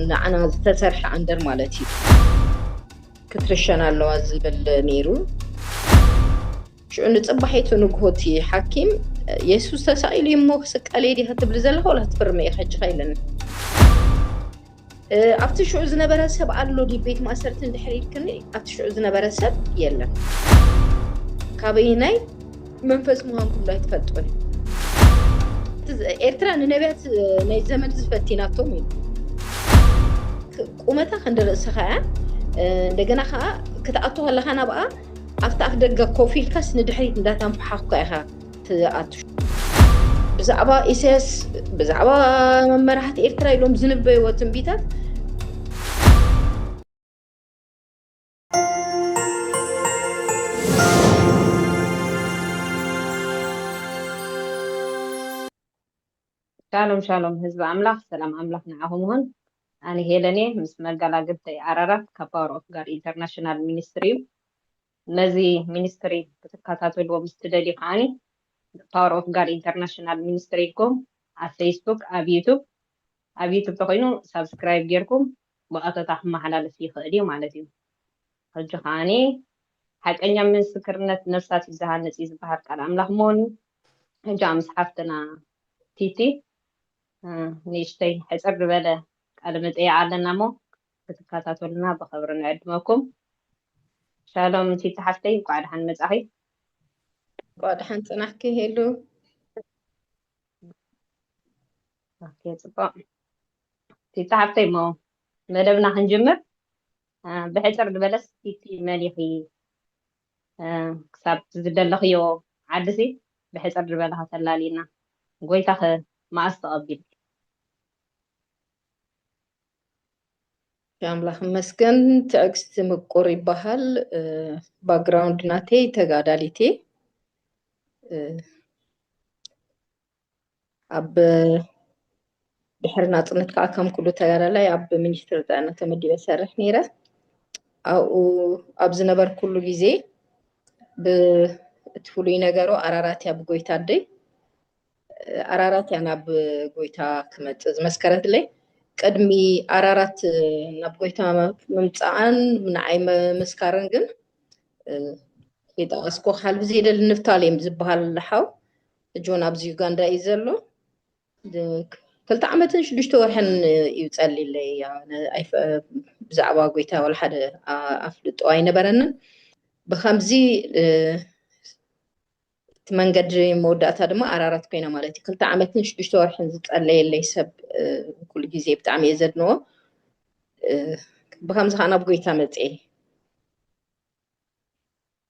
ንዓና ዝተሰርሐ ኣንደር ማለት እዩ ክትርሸን ኣለዋ ዝብል ነይሩ ሽዑ ንፅባሒቱ ንግሆቲ ሓኪም የሱስ ተሳኢሉ እዩ እሞ ክስቀል እየ ዲኻ ትብሊ ዘለኻ ወላ ትፍርመ እየ ከጅኻ ኢለኒ ኣብቲ ሽዑ ዝነበረ ሰብ ኣሎ ዲ ቤት ማእሰርቲ እንድሕር ኢልክኒ ኣብቲ ሽዑ ዝነበረ ሰብ የለን ካበይ ናይ መንፈስ ምዃንኩም ዶ ኣይትፈልጡን ኤርትራ ንነቢያት ናይ ዘመድ ዝፈቲናቶም እዩ ቁመታ ክንዲ ርእስኻ እያ እንደገና ከዓ ክትኣቱ ከለካ ናብኣ ኣብቲ ኣፍ ደገ ኮፍ ኢልካስ ንድሕሪት እንዳታንፈሓኩ ኢኻ ትኣቱ ብዛዕባ ኢሳያስ ብዛዕባ መመራሕቲ ኤርትራ ኢሎም ዝንበይዎ ትንቢታት ሻሎም ሻሎም ህዝቢ ኣምላኽ ሰላም ኣምላኽ ንዓኹም ይኹን ኣነ ሄለን እየ ምስ መጋላግልተይ ኣራራት ካብ ፓወር ኦፍ ጋድ ኢንተርናሽናል ሚኒስትሪ እዩ ነዚ ሚኒስትሪ ክትከታተልዎ ምስ ትደልዩ ከዓኒ ፓወር ኦፍ ጋድ ኢንተርናሽናል ሚኒስትሪ ኢልኩም ኣብ ፌስቡክ ኣብ ዩቱብ ኣብ ዩቱብ ተኮይኑ ሳብስክራይብ ጌርኩም ብቐጥታ ክመሓላለፍ ይኽእል እዩ ማለት እዩ። ሕጂ ከኣ ሓቀኛ ምስክርነት ነፍሳት እዩ ዝሃንጽ እዩ ዝበሃል ቃል ኣምላኽ ምኑ እዩ። ሕጂ ኣምስ ሓፍትና ቲቲ ንእሽተይ ሕጽር ዝበለ ቃለ መጠይቅ ኣለና እሞ ክትከታተሉና ብኸብሪ ንዕድመኩም። ሻሎም ቲቲ ሓፍተይ እንኳዕ ደሓን መጻኺ። እንኳዕ ደሓን ጽናሕኪ ሄሉ። ኦኬ ጽቡቅ እቲ ጸሓፍተይ እሞ መደብና ክንጅምር አ፣ ብሕጽር ዝበለስ እቲ መን ኢኺ አ፣ ክሳብ ዝደለኽዮ ዓድሲ ብሕጽር ዝበለ ከተላልይና ጎይታኸ መኣስ ተቐቢሉ ኣምላኽ ይመስገን ትዕግስቲ ምቁር ይበሃል ባክግራውንድ ናተይ ተጋዳሊት እየ እ፣ ኣብ ድሕሪ ናፅነት ከዓ ከም ኩሉ ተጋዳላይ ኣብ ሚኒስትሪ ጥዕና ተመዲበ ዝሰርሕ ነይረ ኣብኡ ኣብ ዝነበርኩሉ ግዜ እቲ ፍሉይ ነገሩ ኣራራት እያ ብጎይታ ኣደይ ኣራራት እያ ናብ ጎይታ ክመፅእ ዝመስከረትለይ ቅድሚ ኣራራት ናብ ጎይታ ምምፃኣን ንዓይ ምምስካርን ግን የጠቐስኩ ካልብዚ የደል ንፍታሌም ዝበሃል ሓው ጆን ኣብዚ ዩጋንዳ እዩ ዘሎ ክልተ ዓመትን ሽዱሽተ ወርሕን እዩ ጸሊለይ ብዛዕባ ጎይታ ወላ ሓደ ኣፍልጦ ኣይነበረንን ብከምዚ እቲ መንገዲ መወዳእታ ድማ ኣራራት ኮይና ማለት እዩ ክልተ ዓመትን ሽዱሽተ ወርሕን ዝፀለየለይ ሰብ ኩሉ ግዜ ብጣዕሚ እየ ዘድንዎ ብከምዚ ከዓ ናብ ጎይታ መፅኤ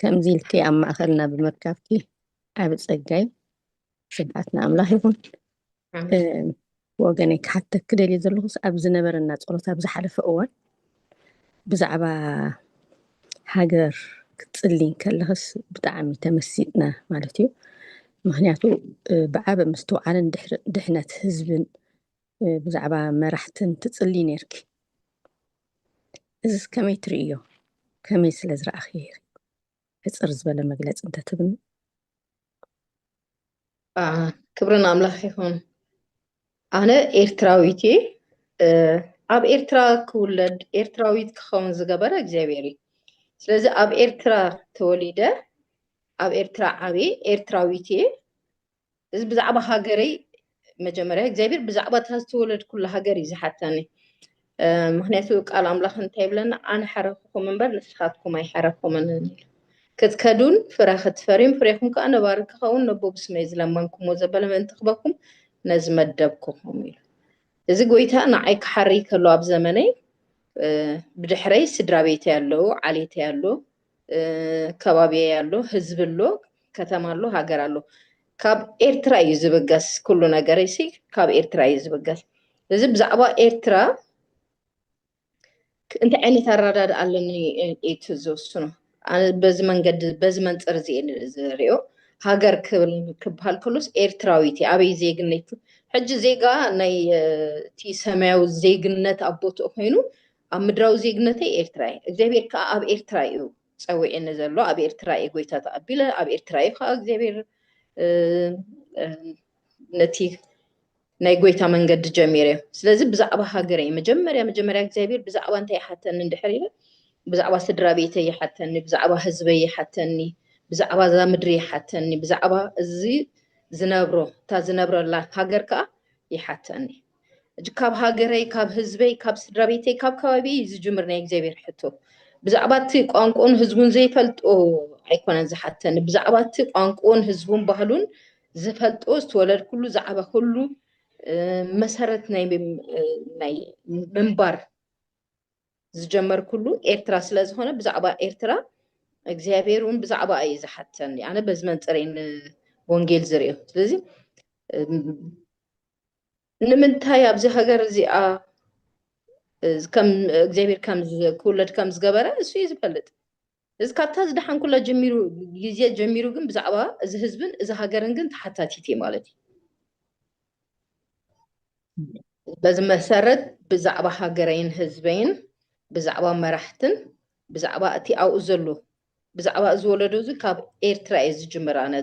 ከምዚ ኢልኪ ኣብ ማእኸልና ብምርካብኪ ዓቢ ጸጋይ ስብሓት ንኣምላኽ ይኹን ወገነይ ክሓተኪ ደልየ ዘለኹስ ኣብ ዝነበረና ጸሎት ኣብ ዝሓለፈ እዋን ብዛዕባ ሃገር ክትጽሊ ከለኽስ ብጣዕሚ ተመሲጥና ማለት እዩ ምክንያቱ ብዓበ ምስትውዓልን ድሕነት ህዝብን ብዛዕባ መራሕትን ትጽልዪ ኔርኪ እዝስ ከመይ ትርእይዮ ከመይ ስለ ዝረኣኽዬ ኢኺ ሕጽር ዝበለ መግለጺ እንተ ትህብኒ። ክብሪ ንኣምላኽ ይኹን ኣነ ኤርትራዊት እየ ኣብ ኤርትራ ክውለድ ኤርትራዊት ክኸውን ዝገበረ እግዚኣብሔር እዩ ስለዚ ኣብ ኤርትራ ተወሊደ ኣብ ኤርትራ ዓብየ ኤርትራዊት እየ እዚ ብዛዕባ ሃገረይ መጀመርያ እግዚኣብሔር ብዛዕባ እታ ዝተወለድኩላ ሃገር እዩ ዝሓተኒ ምክንያቱ ቃል ኣምላኽ እንታይ ይብለና ኣነ ሓረክኹም እምበር ንስኻትኩም ኣይሓረኩምን ክትከዱን ፍረ ክትፈርዩን ፍሬኹም ከዓ ነባሪ ክኸውን ነቦ ብስመይ ዝለመንኩሞ ዘበለ ምእንቲ ክበኩም ነዚ መደብኩኹም ኢሉ እዚ ጎይታ ንዓይ ክሓርይ ከሎ ኣብ ዘመነይ ብድሕረይ ስድራ ቤተይ ኣለዉ ዓሌተይ ኣለዉ ከባቢየ ኣሎ ህዝቢ ኣሎ ከተማ ኣሎ ሃገር ኣሎ ካብ ኤርትራ እዩ ዝብገስ ኩሉ ነገረይ ሲ ካብ ኤርትራ እዩ ዝብገስ እዚ ብዛዕባ ኤርትራ እንታይ ዓይነት ኣረዳድ ኣለኒ እቲ ዝወስኖ በዚ መንገዲ በዚ መንፅር እዚ ዝሪኦ ሃገር ክብል ክበሃል ከሎስ ኤርትራዊት እዩ ኣበይ ዜግነት ሕጂ ዜጋ ናይ እቲ ሰማያዊ ዜግነት ኣቦትኡ ኮይኑ ኣብ ምድራዊ ዜግነተይ ኤርትራ እየ እግዚኣብሔር ከኣ ኣብ ኤርትራ እዩ ጸዊዕኒ ዘሎ ኣብ ኤርትራ እየ ጎይታ ተቐቢለ ኣብ ኤርትራ እዩ ከኣ እግዚኣብሔር ነቲ ናይ ጎይታ መንገዲ ጀሚረ እዩ ስለዚ ብዛዕባ ሃገረ እዩ መጀመርያ መጀመርያ እግዚኣብሔር ብዛዕባ እንታይ ይሓተኒ እንድሕር ኢለ ብዛዕባ ስድራ ቤተ ይሓተኒ ብዛዕባ ህዝበ ይሓተኒ ብዛዕባ እዛ ምድሪ ይሓተኒ ብዛዕባ እዚ ዝነብሮ እታ ዝነብረላ ሃገር ከዓ ይሓተኒ እጅ ካብ ሃገረይ ካብ ህዝበይ ካብ ስድራ ቤተይ ካብ ከባቢ እዩ ዝጅምር ናይ እግዚኣብሔር ሕቶ ብዛዕባ እቲ ቋንቁን ህዝቡን ዘይፈልጦ ኣይኮነን ዝሓተኒ ብዛዕባ እቲ ቋንቁን ህዝቡን ባህሉን ዝፈልጦ ዝተወለድኩሉ ዝዓበኩሉ መሰረት ናይ ናይ ምንባር ዝጀመርኩሉ ኤርትራ ስለ ዝኾነ ብዛዕባ ኤርትራ እግዚኣብሔር እውን ብዛዕባ እዩ ዝሓተኒ ኣነ በዚ መንፅሬን ወንጌል ዝርኦ ስለዚ ንምንታይ ኣብዚ ሃገር እዚኣ እግዚኣብሔር ከም ክውለድ ከም ዝገበረ እሱ እዩ ዝፈልጥ እዚ ካብታ ዝደሓንኩላ ጀሚሩ ግዜ ጀሚሩ ግን ብዛዕባ እዚ ህዝብን እዚ ሃገርን ግን ተሓታቲት እየ ማለት እዩ በዚ መሰረት ብዛዕባ ሃገረይን ህዝበይን ብዛዕባ መራሕትን ብዛዕባ እቲ ኣብኡ ዘሎ ብዛዕባ እዚ ወለዶ እዚ ካብ ኤርትራ እየ ዝጅምር ኣነ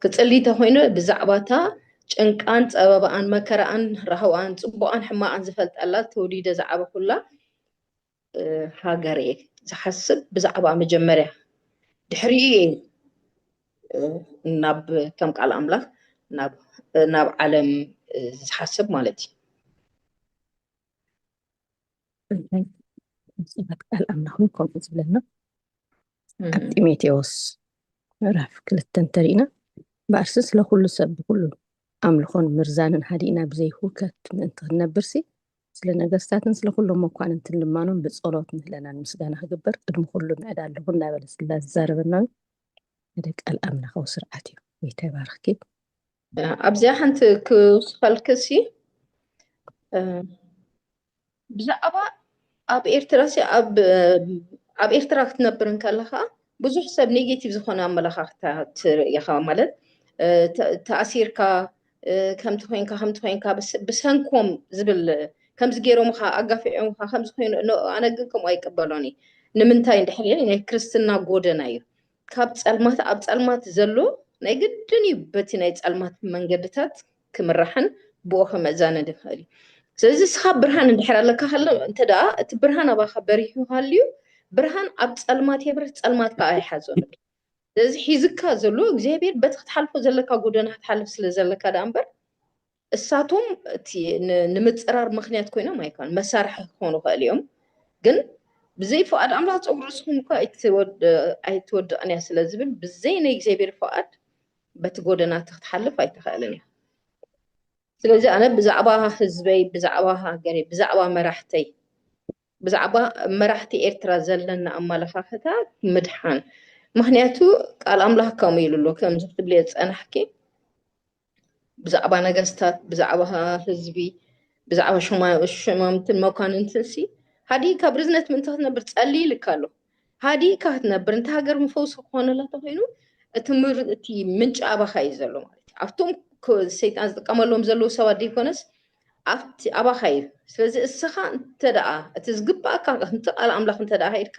ክጽሊ ተኮይነ ብዛዕባታ ጭንቃን ጸበባኣን መከራኣን ራህዋኣን ጽቡቃን ሕማቃን ዝፈልጠላ ተወሊደ ዝዓበኩላ ሃገር እየ ዝሓስብ ብዛዕባ መጀመርያ ድሕሪኡ እየ ናብ ከም ቃል ኣምላኽ ናብ ዓለም ዝሓስብ ማለት እዩ ቃል ኣምላኽን ከምኡ ዝብለና ኣብ ጢሞቴዎስ ምዕራፍ ክልተ እንተሪእና በኣርሲ ስለ ኩሉ ሰብ ብኩሉ ኣምልኾን ምርዛንን ሃዲእና ብዘይህውከት ምእንቲ ክንነብርሲ ስለ ነገስታትን ስለ ኩሎም መኳንንትን ልማኖም ብጸሎት ምህለናን ምስጋና ክግበር ቅድሚ ኩሉ ምዕዳ ኣለኹ እናበለ ስላ ዝዛረበና ሓደ ቃል ኣምላኻዊ ስርዓት እዩ ይተባርኽኪ ኣብዚኣ ሓንቲ ክውስኸልክሲ ብዛዕባ ኣብ ኤርትራ ሲ ኣብ ኤርትራ ክትነብር እንከለኻ ብዙሕ ሰብ ኔጌቲቭ ዝኾነ ኣመለኻኽታ ትርእኻ ማለት ተኣሲርካ ከምቲ ኮንካ ከምቲ ኮንካ ብሰንኮም ዝብል ከምዚ ገይሮምኻ ኣጋፊዖምኻ ከምዚ ኮይኑ ኣነ ግን ከምኡ ኣይቀበሎን እዩ ንምንታይ እንድሕር ናይ ክርስትና ጎደና እዩ ካብ ጸልማት ኣብ ጸልማት ዘሎ ናይ ግድን እዩ በቲ ናይ ጸልማት መንገድታት ክምራሕን ብኡ ከመዛነ ድኽእል እዩ ስለዚ እስኻ ብርሃን እንድሕር ኣለካ ከሎ እንተ ደኣ እቲ ብርሃን ኣባኻ በሪሁ ሃልዩ ብርሃን ኣብ ጸልማት የብርህ ጸልማት ከዓ ኣይሓዞን ስለዚ ሒዝካ ዘሎ እግዚኣብሔር በቲ ክትሓልፎ ዘለካ ጎደና ክትሓልፍ ስለ ዘለካ ደኣ እምበር እሳቶም እቲ ንምፅራር ምክንያት ኮይኖም ኣይኮን መሳርሒ ክኾኑ ይኽእል እዮም ግን ብዘይ ፍቃድ ኣምላኽ ፀጉሪ ርእስኹም እኳ ኣይትወድቕን እያ ስለ ዝብል ብዘይ ናይ እግዚኣብሔር ፍቃድ በቲ ጎደና እቲ ክትሓልፍ ኣይትኽእልን እያ ስለዚ ኣነ ብዛዕባ ህዝበይ ብዛዕባ ሃገረይ ብዛዕባ መራሕተይ ብዛዕባ መራሕቲ ኤርትራ ዘለና ኣመለኻኽታ ምድሓን ምክንያቱ ቃል ኣምላኽ ከምኡ ኢሉ ኣሎ ከምዚ ክትብልዮ ዝፀናሕኪ ብዛዕባ ነገስታት ብዛዕባ ህዝቢ ብዛዕባ ሸማምትን መኳንንትን ሲ ሃዲእካ ብርዝነት ምእንቲ ክትነብር ጸልይ ይልካ ኣሎ ሃዲእካ ክትነብር እንተ ሃገር ምፈውሲ ክኾነላ ተኮይኑ እቲ እቲ ምንጪ ኣባኻ እዩ ዘሎ ማለት እዩ ኣብቶም ሰይጣን ዝጥቀመሎም ዘለዉ ሰባት ዘይኮነስ ኣብቲ ኣባኻ እዩ ስለዚ እስኻ እንተ ደኣ እቲ ዝግባእካ ከምቲ ቃል ኣምላኽ እንተ ደኣ ሃይልካ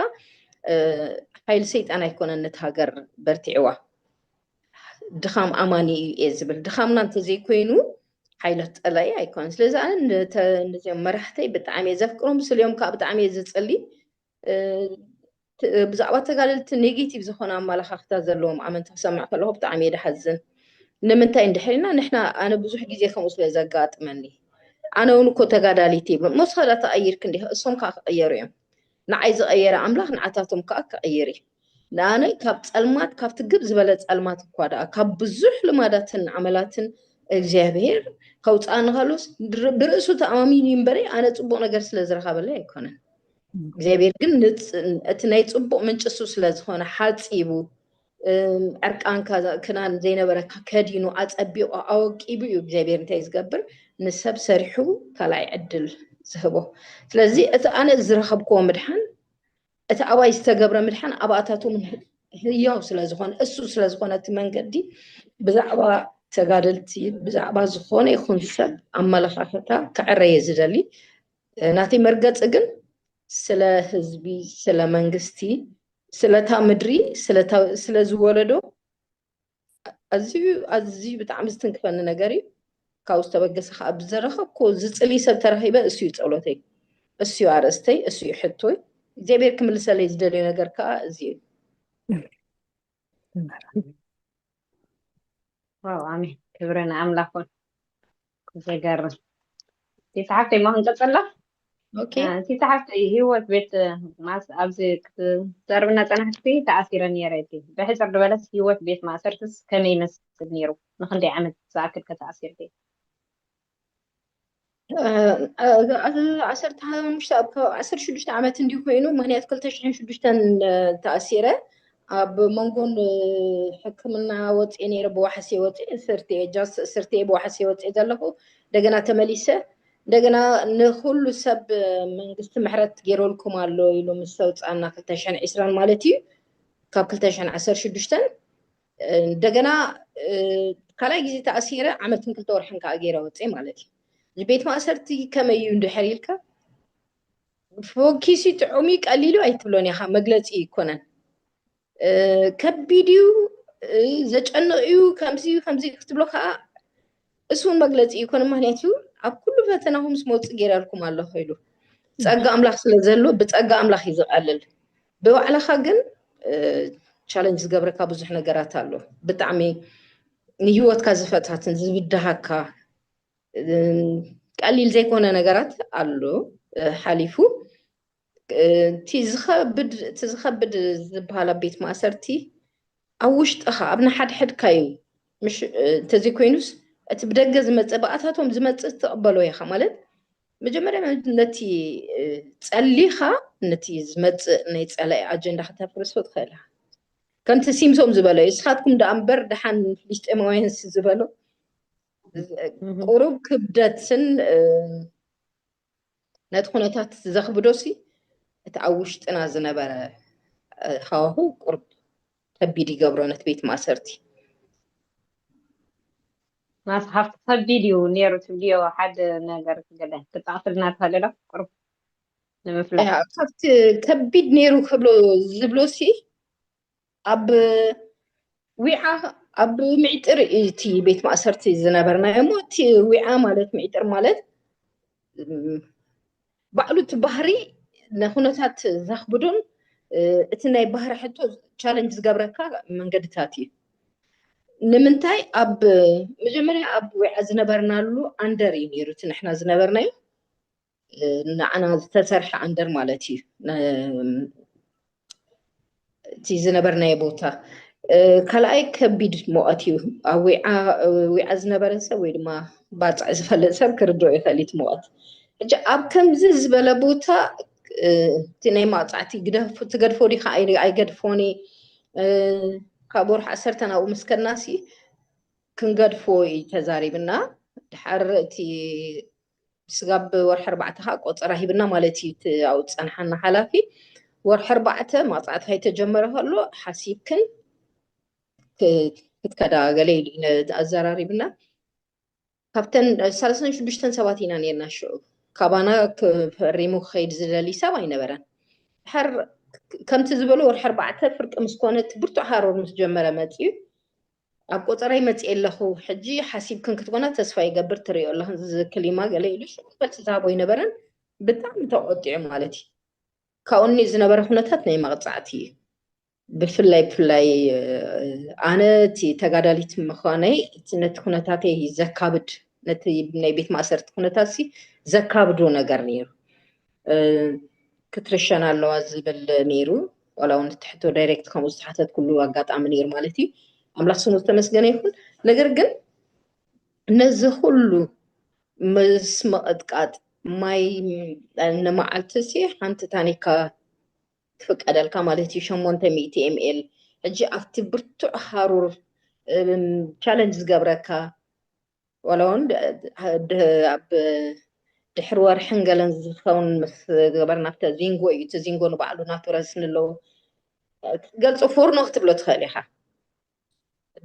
ሓይሊ ሰይጣን ኣይኮነን ነቲ ሃገር በርቲዕዋ ድኻም ኣማኒ እዩ እየ ዝብል ድኻምና እንተዘይኮይኑ ሓይለ ጠላይ ኣይኮነን ስለዚ ኣነ ነዚኦም መራሕተይ ብጣዕሚ እየ ዘፍቅሮም ስልዮም ከዓ ብጣዕሚ እየ ዝፅሊ ብዛዕባ ተጋደልቲ ኔጌቲቭ ዝኾነ ኣመላኻኽታ ዘለዎም ኣመንቲ ክሰምዕ ከለኹ ብጣዕሚ እየ ድሓዝን ንምንታይ እንድሕሪና ንሕና ኣነ ብዙሕ ግዜ ከምኡ ስለ ዘጋጥመኒ ኣነ እውን እኮ ተጋዳሊት እየ መወስኸዳ ተቐይርክ እንዲኻ እሶም ከዓ ክቐየሩ እዮም ንዓይ ዝቐየረ ኣምላኽ ንዓታቶም ከኣ ክቕይር እዩ። ንኣነ ካብ ጸልማት ካብቲ ግብ ዝበለ ጸልማት እኳ ደኣ ካብ ብዙሕ ልማዳትን ዓመላትን እግዚኣብሔር ከውጽኣኒ ከሎስ ብርእሱ ተኣማሚኑ እምበሪ ኣነ ጽቡቕ ነገር ስለ ዝረኸበለይ ኣይኮነን። እግዚኣብሔር ግን እቲ ናይ ጽቡቕ ምንጭሱ ስለ ዝኾነ ሓጺቡ ዕርቃንካ ክናን ዘይነበረካ ከዲኑ ኣፀቢቑ ኣወቂቡ እዩ እግዚኣብሔር እንታይ ዝገብር ንሰብ ሰሪሑ ካልኣይ ዕድል ዝህቦ ስለዚ እቲ ኣነ ዝረኸብክዎ ምድሓን እቲ ኣባይ ዝተገብረ ምድሓን ኣብኣታቶም ህያው ስለዝኾነ እሱ ስለዝኾነ እቲ መንገዲ ብዛዕባ ተጋደልቲ ብዛዕባ ዝኾነ ይኹን ሰብ ኣመለኻኸታ ክዕረየ ዝደሊ ናተይ መርገፂ ግን ስለ ህዝቢ ስለ መንግስቲ ስለታ ምድሪ ስለዚ ወለዶ ኣዝዩ ኣዝዩ ብጣዕሚ ዝትንክፈኒ ነገር እዩ ካብኡ ዝተበገሰ ከዓ ብዘረኸብኮ ዝፅሊ ሰብ ተረኺበ እሱ እዩ ፀሎተይ እሱ እዩ ኣርእስተይ እሱ እዩ ሕቶይ እግዚኣብሔር ክምልሰለይ ዝደልዮ ነገር ከዓ እዚ እዩ ዋው ኣሜን ክብሪ ንኣምላኹን ዘገርም እቲ ጸሓፍተይ ሞ ክንቀጽሎ ኦኬ እቲ ጸሓፍተይ ህይወት ቤት ማስ ኣብዚ ክትዘርብና ጸናሕቲ ተኣሲረ ነይረ እቲ ብሕጽር ዝበለስ ህይወት ቤት ማእሰርትስ ከመይ ይመስል ነይሩ ንክንደይ ዓመት ዝኣክል ከተኣሲርኪ ዓሰርተ ሓሙሽተ ዓሰርተ ሽዱሽተ ዓመት እንዲሁ ኮይኑ ምክንያቱ ክልተ ሽሕን ሽዱሽተን ተኣሲረ ኣብ መንጎ ን ሕክምና ወጺኤ ነይረ ብዋሕሴ ወጺኤ እስርቲ እየ ጃስ እስርቲ እየ ብዋሕሴ ወጺኤ ዘለኹ እንደገና ተመሊሰ እንደገና ንኹሉ ሰብ መንግስቲ ምሕረት ገይረልኩም ኣሎ ኢሉ ምስ ተውጻና ክልተ ሽሕን ዒስራን ማለት እዩ ካብ ክልተ ሽሕን ዓሰርተ ሽዱሽተን እንደገና ካልኣይ ግዜ ተኣሲረ ዓመትን ክልተ ወርሕን ከዓ ገይረ ወጺኤ ማለት እዩ ቤት ማእሰርቲ ከመይ እዩ እንድሕር ኢልካ ፎኪሲ ጥዑም እዩ ቀሊሉ ኣይትብሎን ኢኻ መግለፂ ኣይኮነን ከቢድ እዩ ዘጨንቕ እዩ ከምዚ እዩ ከምዚ እዩ ክትብሎ ከዓ እሱ እውን መግለፂ ይኮነ ምክንያቱ ኣብ ኩሉ ፈተናኹም ምስ መውፅእ ገይረልኩም ኣለኹ ኢሉ ፀጋ ኣምላኽ ስለ ዘሎ ብፀጋ ኣምላኽ እዩ ዝቐልል ብባዕልኻ ግን ቻለንጅ ዝገብረካ ብዙሕ ነገራት ኣሎ ብጣዕሚ ንሂወትካ ዝፈታትን ዝብድሃካ ቀሊል ዘይኮነ ነገራት ኣሎ ሓሊፉ እቲ ዝኸብድ ዝበሃል ኣብ ቤት ማእሰርቲ ኣብ ውሽጥኻ ኣብ ንሓድሕድካ እዩ እንተዘይኮይኑስ እቲ ብደገ ዝመፅእ ብኣታቶም ዝመፅእ ትቕበሎ ኢኻ ማለት መጀመርያ ነቲ ፀሊኻ ነቲ ዝመፅእ ናይ ፀላኢ ኣጀንዳ ከተፍርሶ ትኽእል ኢኻ ከምቲ ሲምሶም ዝበሎ እዩ እስኻትኩም ደኣ እምበር ደሓን ፍልስጤማውያንስ ዝበሎ ቁሩብ ክብደትን ነቲ ኩነታት ዘኽብዶሲ እቲ ኣብ ውሽጥና ዝነበረ ሃዋሁ ቁርብ ከቢድ ይገብሮ ነቲ ቤት ማእሰርቲ ናስ ሃፍቲ ከቢድ እዩ ነይሩ ትብልዮ ሓደ ነገር ገለ ክጠቕስልና ትኽእል ዶ ቁርብ ንምፍላጥ ካብቲ ከቢድ ነይሩ ክብሎ ዝብሎሲ ኣብ ዊዓ ኣብ ምዒጥር እቲ ቤት ማእሰርቲ ዝነበርናዮ እሞ እቲ ዊዓ ማለት ምዒጥር ማለት ባዕሉ እቲ ባህሪ ንኩነታት ዘኽብዱን እቲ ናይ ባህሪ ሕቶ ቻለንጅ ዝገብረካ መንገድታት እዩ ንምንታይ ኣብ መጀመርያ ኣብ ዊዓ ዝነበርናሉ ኣንደር እዩ ነይሩ እቲ ንሕና ዝነበርናዩ ንዓና ዝተሰርሐ ኣንደር ማለት እዩ እቲ ዝነበርናዮ ቦታ ካልኣይ ከቢድ ሞቐት እዩ ኣብ ዊዓ ዊዓ ዝነበረ ሰብ ወይ ድማ ባፅዕ ዝፈልጥ ሰብ ክርድኦ ይኽእል እቲ ሞቐት ሕጂ ኣብ ከምዚ ዝበለ ቦታ እቲ ናይ ማቕፃዕቲ ትገድፎ ዲካ ኣይገድፎኒ ካብ ወርሒ ዓሰርተ ናብኡ ምስ ከድናሲ ክንገድፎ እዩ ተዛሪብና ድሓር እቲ ስጋብ ወርሒ ኣርባዕተ ከዓ ቆፀራ ሂብና ማለት እዩ እቲ ኣብኡ ዝፀንሓና ሓላፊ ወርሒ ኣርባዕተ ማፅዕት ከይተጀመረ ከሎ ሓሲብክን ክትከዳ ገለ ኢሉ ኣዘራሪብና ካብተን ሰለስተን ሽዱሽተን ሰባት ኢና ነርና ሽዑ ካባና ፈሪሙ ክኸይድ ዝደልይ ሰብ ኣይነበረን ድሓር ከምቲ ዝበሎ ወርሒ ኣርባዕተ ፍርቂ ምስ ኮነት ብርቱዕ ሃሮር ምስ ጀመረ መፅኡ ኣብ ቆጸረይ መጽኤ ኣለኹ ሕጂ ሓሲብክን ክትኮና ተስፋ ይገብር ትሪኦ ኣለኽን ዝክሊማ ገለ ኢሉ መልሲ ዝሃቦ ይነበረን ብጣዕሚ ተቆጢዑ ማለት እዩ ካብኡ ኒ ዝነበረ ኩነታት ናይ መቕጻዕቲ እዩ ብፍላይ ብፍላይ ኣነ እቲ ተጋዳሊት ምዃነይ ነቲ ኩነታተይ ዘካብድ ነቲ ናይ ቤት ማእሰርቲ ኩነታት ሲ ዘካብዶ ነገር ነይሩ ክትርሸን ኣለዋ ዝብል ነይሩ ዋላ እውን ትሕቶ ዳይሬክት ከምኡ ዝተሓተት ኩሉ ኣጋጣሚ ነይሩ ማለት እዩ ኣምላኽ ስሙ ዝተመስገነ ይኹን ነገር ግን ነዚ ኩሉ ምስ መቐጥቃጥ ማይ ንመዓልቲ ሲ ሓንቲ ታኒካ ትፍቀደልካ ማለት እዩ ሸሞንተ ሚእቲ ኤምኤል ሕጂ ኣብቲ ብርቱዕ ሃሩር ቻለንጅ ዝገብረካ ዋላ እውን ኣብ ድሕሪ ወርሕን ገለን ዝኸውን ምስ ገበርና ኣብተ ዚንጎ እዩ እቲ ዚንጎ ንባዕሉ ናቱ ረስኒ ኣለዎ ክትገልፆ ፎርኖ ክትብሎ ትኽእል ኢኻ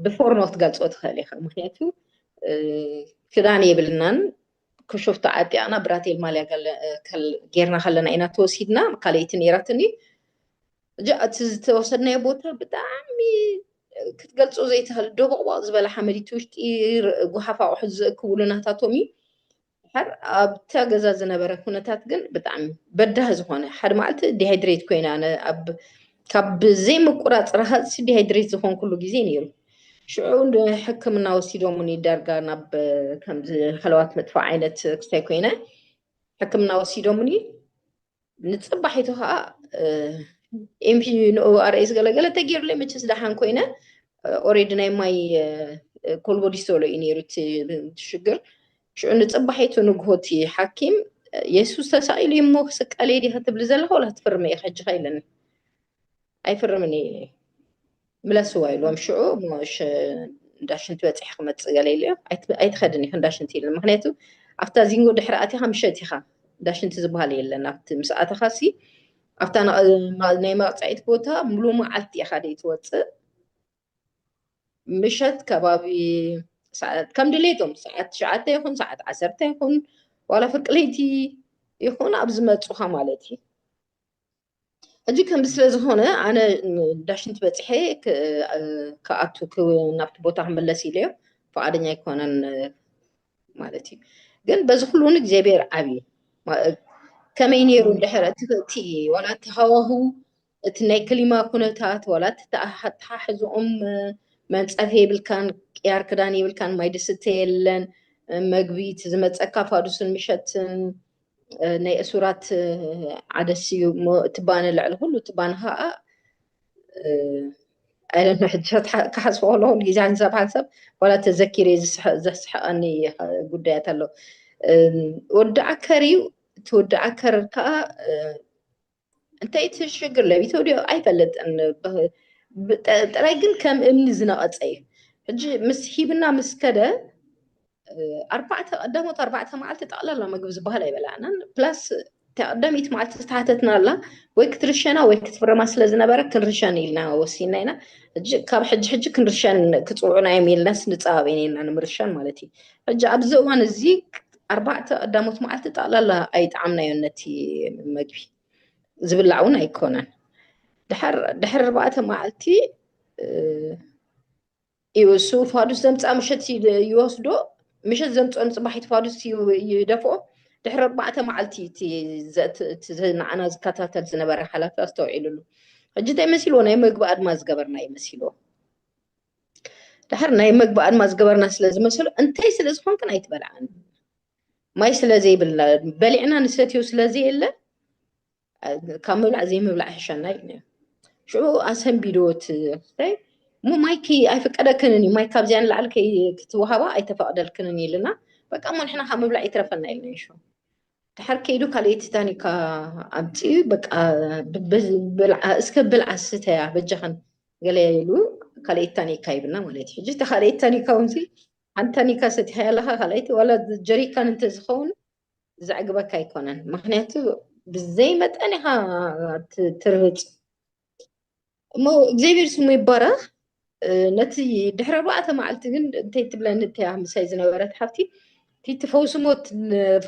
ብፎርኖ ክትገልፆ ትኽእል ኢኻ ምክንያቱ ክዳን የብልናን ክሾፍቶ ዓጢቕና ብራቴል ማልያ ጌርና ከለና ኢና ተወሲድና ካልኣይቲ ነይራትኒ እጃ እቲ ዝተወሰድናዮ ቦታ ብጣዕሚ ክትገልፆ ዘይትኽእል ዶቦቕቦቕ ዝበለ ሓመድ እቲ ውሽጢ ጉሓፍ ኣቑሑት ዝእክብሉ ናታቶም እዩ ሓር ኣብታ ገዛ ዝነበረ ኩነታት ግን ብጣዕሚ በዳህ ዝኾነ ሓደ መዓልቲ ዲሃይድሬት ኮይነ ኣነ ኣብ ካብ ዘይምቁራፅ ረሃፅሲ ዲሃይድሬት ዝኾንኩሉ ግዜ ነይሩ ሽዑ ሕክምና ወሲዶሙኒ ዳርጋ ናብ ከምዚ ሃለዋት መጥፋእ ዓይነት ክስታይ ኮይነ ሕክምና ወሲዶሙኒ ንፅባሒቱ ከዓ ኤምሒ ንኡ ኣርእስ ገለገለ ተገይሩለ መቸስ ደሓን ኮይነ ኦሬዲ ናይ ማይ ኮልቦ ዲስተሎ እዩ ነይሩ እቲ ሽግር ሽዑ ንፅባሒቱ ንግሆቲ ሓኪም የሱስ ተሳኢሉ እሞ ክስቀለ ዲ ክትብሊ ዘለካ ወላ ትፍርመ ኢኻ ሕጂ ከይለኒ ኣይፍርምን እዩ ምለስዋ ኢልዎም ሽዑ እሞ እንዳ ሽንቲ በፂሕ ክመፅእ ገለ ኢሉ እዮም ኣይትኸድን ኢኹ እንዳ ሽንቲ ኢሉ ምክንያቱ ኣብታ ዚንጎ ድሕሪ ኣቲኻ ምሸት ኢኻ እንዳ ሽንቲ ዝበሃል የለን ኣብቲ ምስ ኣተኻ ሲ ኣብታ ናይ መቕፃዒት ቦታ ሙሉ መዓልቲ ኢኻ ደይ ትወፅእ ምሸት ከባቢ ከም ድሌቶም ሰዓት ትሽዓተ ይኹን ሰዓት ዓሰርተ ይኹን ዋላ ፍርቂ ለይቲ ይኹን ኣብ ዝመፁኻ ማለት እዩ ሕጂ ከምዚ ስለ ዝኾነ ኣነ ዳሽንቲ በፂሐ ክኣቱ ናብቲ ቦታ ክመለስ ኢለዮ ፈቃደኛ ኣይኮነን ማለት እዩ ግን በዚ ኩሉ እውን እግዚኣብሔር ዓብዪ ከመይ ነይሩ ድሕረ እቲ ዋላ እቲ ሃዋህው እቲ ናይ ክሊማ ኩነታት ዋላ እቲ ተሓሕዝኦም መንፀፊ የብልካን ቅያር ክዳን የብልካን ማይ ድስተ የለን መግቢ እቲ ዝመፀካ ፋዱስን ምሸትን ናይ እሱራት ዓደስ እዩ እሞ እቲ ባነ ልዕሊ ኩሉ እቲ ባነ ከዓ ኣይለኖ ሕጂ ክሓስቦ ከለኹ ግዜ ሓንሳብ ሓንሳብ ዋላ ተዘኪረ ዘስሕቐኒ ጉዳያት ኣሎ ወዲ ዓከር እዩ እቲ ወዲ ዓከር ከዓ እንታይ እቲ ሽግር ለቢቶ ድዮ ኣይፈልጥን ጥራይ ግን ከም እምኒ ዝነቐፀ እዩ ሕጂ ምስ ሂብና ምስ ከደ ኣርባዕተ ቀዳሞት ኣርባዕተ መዓልቲ ጠቕላላ ምግቢ ዝበሃል ኣይበላዕናን ፕላስ ተቀዳሚት መዓልቲ ዝተሓተትና ኣላ ወይ ክትርሸና ወይ ክትፍረማ ስለ ዝነበረ ክንርሸን ኢልና ወሲና ኢና ሕጂ ካብ ሕጂ ሕጂ ክንርሸን ክፅውዑና እዮም ኢልናስ ንፀባበ ኢና ንምርሻን ማለት እዩ ሕጂ ኣብዚ እዋን እዚ ኣርባዕተ ቀዳሞት መዓልቲ ጠቕላላ ኣይጠዓምናዮን ነቲ መግቢ ዝብላዕ እውን ኣይኮነን ድሕሪ ኣርባዕተ መዓልቲ እዩ እሱ ፋዱስ ዘምፃእ ምሸት ይወስዶ ምሸት ዘምፅኦ ንፅባሒት ፋዱስ ይደፍኦ ድሕሪ ኣርባዕተ መዓልቲ ንዓና ዝከታተል ዝነበረ ሓላፊ ኣስተውዒሉሉ ሕጂ እንታይ መሲልዎ ናይ መግቢ ኣድማ ዝገበርና ይመሲልዎ ድሓር ናይ መግቢ ኣድማ ዝገበርና ስለ ዝመሰሉ እንታይ ስለ ዝኾንክን ኣይትበልዓን ማይ ስለ ዘይብልና በሊዕና ንሰትዮ ስለ ዘየለ ካብ ምብላዕ ዘይምብላዕ ሕሸና እዩ ነይሩ ሽዑ ኣሰንቢዶ እቲ ክፍታይ እሞ ማይ ከይ ኣይፍቀደክንን እዩ ማይ ካብዚያ ንላዕሊ ከይ ክትወሃባ ኣይተፈቅደልክንን ኢልና በቃ እሞ ንሕና ካብ ምብላዕ ይትረፈና ኢልና ይሹ ድሓር ከይዱ ካልኣይቲ ታኒካ ኣምፅኡ በቃ እስከ ብልዓ ስተያ በጃኽን ገለ ኢሉ ካልኣይቲ ታኒካ ይብና ማለት እዩ ሕጂ እታ ካልኣይቲ ታኒካ እውን ሓንቲ ታኒካ ሰቲኻያ ኣለካ ካልኣይቲ ዋላ ጀሪካን እንተዝኸውን ዘዕግበካ ኣይኮነን ምክንያቱ ብዘይ መጠን ኢኻ ትርህፅ እሞ እግዚኣብሔር ስሙ ይባረኽ ነቲ ድሕሪ ኣርባዕተ መዓልቲ ግን እንታይ ትብለኒ እተያ ምሳይ ዝነበረት ሓፍቲ እቲ ፈውሲ ሞት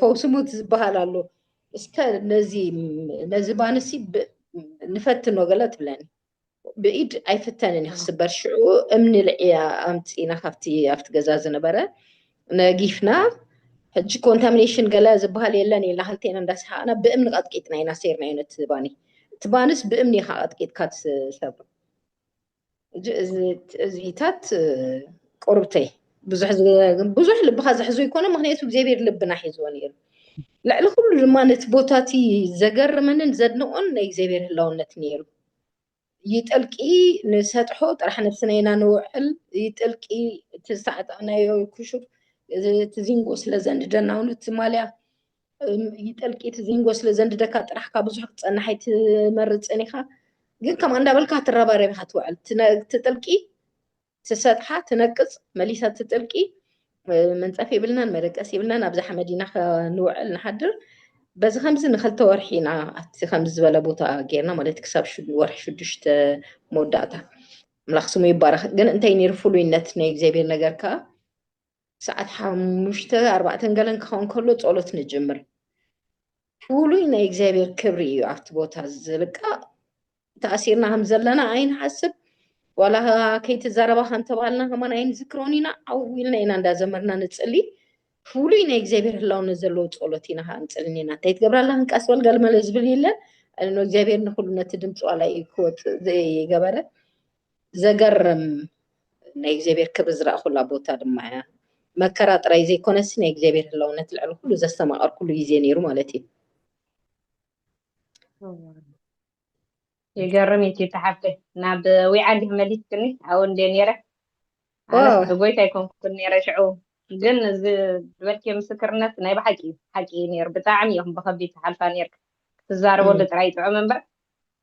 ፈውሲ ሞት ዝበሃል ኣሎ እስከ ነዚ ነዚ ባንሲ ንፈትኖ ገለ ትብለኒ ብኢድ ኣይፍተንን ክስበር ሽዑ እምኒ ልዕያ ኣምፂና ካብቲ ኣብቲ ገዛ ዝነበረ ነጊፍና ሕጂ ኮንታሚኔሽን ገለ ዝበሃል የለን ኢልና ክልቴና እንዳሰሓቕና ብእምኒ ቀጥቂጥና ኢና ሰይርናዮ ነቲ ባኒ እቲ ባንስ ብእምኒ ኢኻ ቀጥቂጥካ ትሰብሮ እዚታት ቁርብተይ ብዙሕ ብዙሕ ልብኻ ዝሕዞ ይኮነ ምክንያቱ እግዚኣብሔር ልብና ሒዝዎ ነይሩ ልዕሊ ኩሉ ድማ ነቲ ቦታ እቲ ዘገርመንን ዘድንቆን ናይ እግዚኣብሔር ህላውነት ነይሩ ይጥልቂ ንሰጥሑ ጥራሕ ነብስና ኢና ንውዕል ይጥልቂ እቲ ዝተዓጠቕናዮ ክሹፍ እቲ ዚንጎ ስለ ዘንድደና እውን እቲ ማልያ ይጠልቂ እቲ ዚንጎ ስለ ዘንድደካ ጥራሕ ካብ ብዙሕ ክትፀንሕ ኣይትመርፅን ኢኻ ግን ከምኣ እንዳበልካ ትረባረብ ኢኻ ትውዕል እቲ ጥልቂ ትሰጥሓ ትነቅጽ መሊሳ ትጥልቂ መንጸፍ የብልናን መደቀስ የብልናን ኣብዛ ሓመድ ኢና ንውዕል ንሓድር በዚ ከምዚ ንክልተ ወርሒ ኢና ኣብቲ ከምዚ ዝበለ ቦታ ጌርና ማለት ክሳብ ወርሒ ሽዱሽተ መወዳእታ ኣምላኽ ስሙ ይባረኽ ግን እንታይ ነይሩ ፍሉይነት ናይ እግዚኣብሔር ነገር ከዓ ሰዓት ሓሙሽተ ኣርባዕተን ገለን ክኸውን ከሎ ጸሎት ንጅምር። ፍሉይ ናይ እግዚኣብሔር ክብሪ እዩ ኣብቲ ቦታ ዝልቃእ ተኣሲርና ከም ዘለና ኣይንሓስብ ዋላ ከይትዛረባ ከንተባሃልና ከማን ኣይንዝክሮን ኢና ዓው ኢልና ኢና እንዳዘመርና ንፅሊ ፍሉይ ናይ እግዚኣብሔር ህላውነት ዘለዎ ፀሎት ኢና ከዓ ንፅልን ኢና እንታይ ትገብራላ ክንቃስ በል ገልመለ ዝብል የለን እግዚኣብሔር ንኩሉ ነቲ ድምፂ ዋላ ክወፅእ ዘይገበረ ዘገርም ናይ እግዚኣብሔር ክብሪ ዝረኣኹላ ቦታ ድማ እያ መከራ ጥራይ ዘይኮነሲ ናይ እግዚኣብሔር ህላውነት ልዕሊ ኩሉ ዘስተማቐርኩሉ ግዜ ነይሩ ማለት እዩ ይገርም እዩ ተሓብተ ናብ ዊዓግ መሊስክኒ ኣብኡ እንደ ነይረ ጎይታ ኣይኮንኩን ነይረ ሽዑ ግን እዚ ዝበልኪ ምስክርነት ናይ ብሓቂ እዩ ሓቂ እዩ ነይሩ ብጣዕሚ እዮም ብከቢድ ትሓልፋ ነይርካ ክትዛረበሉ ጥራይ ጥዑም እምበር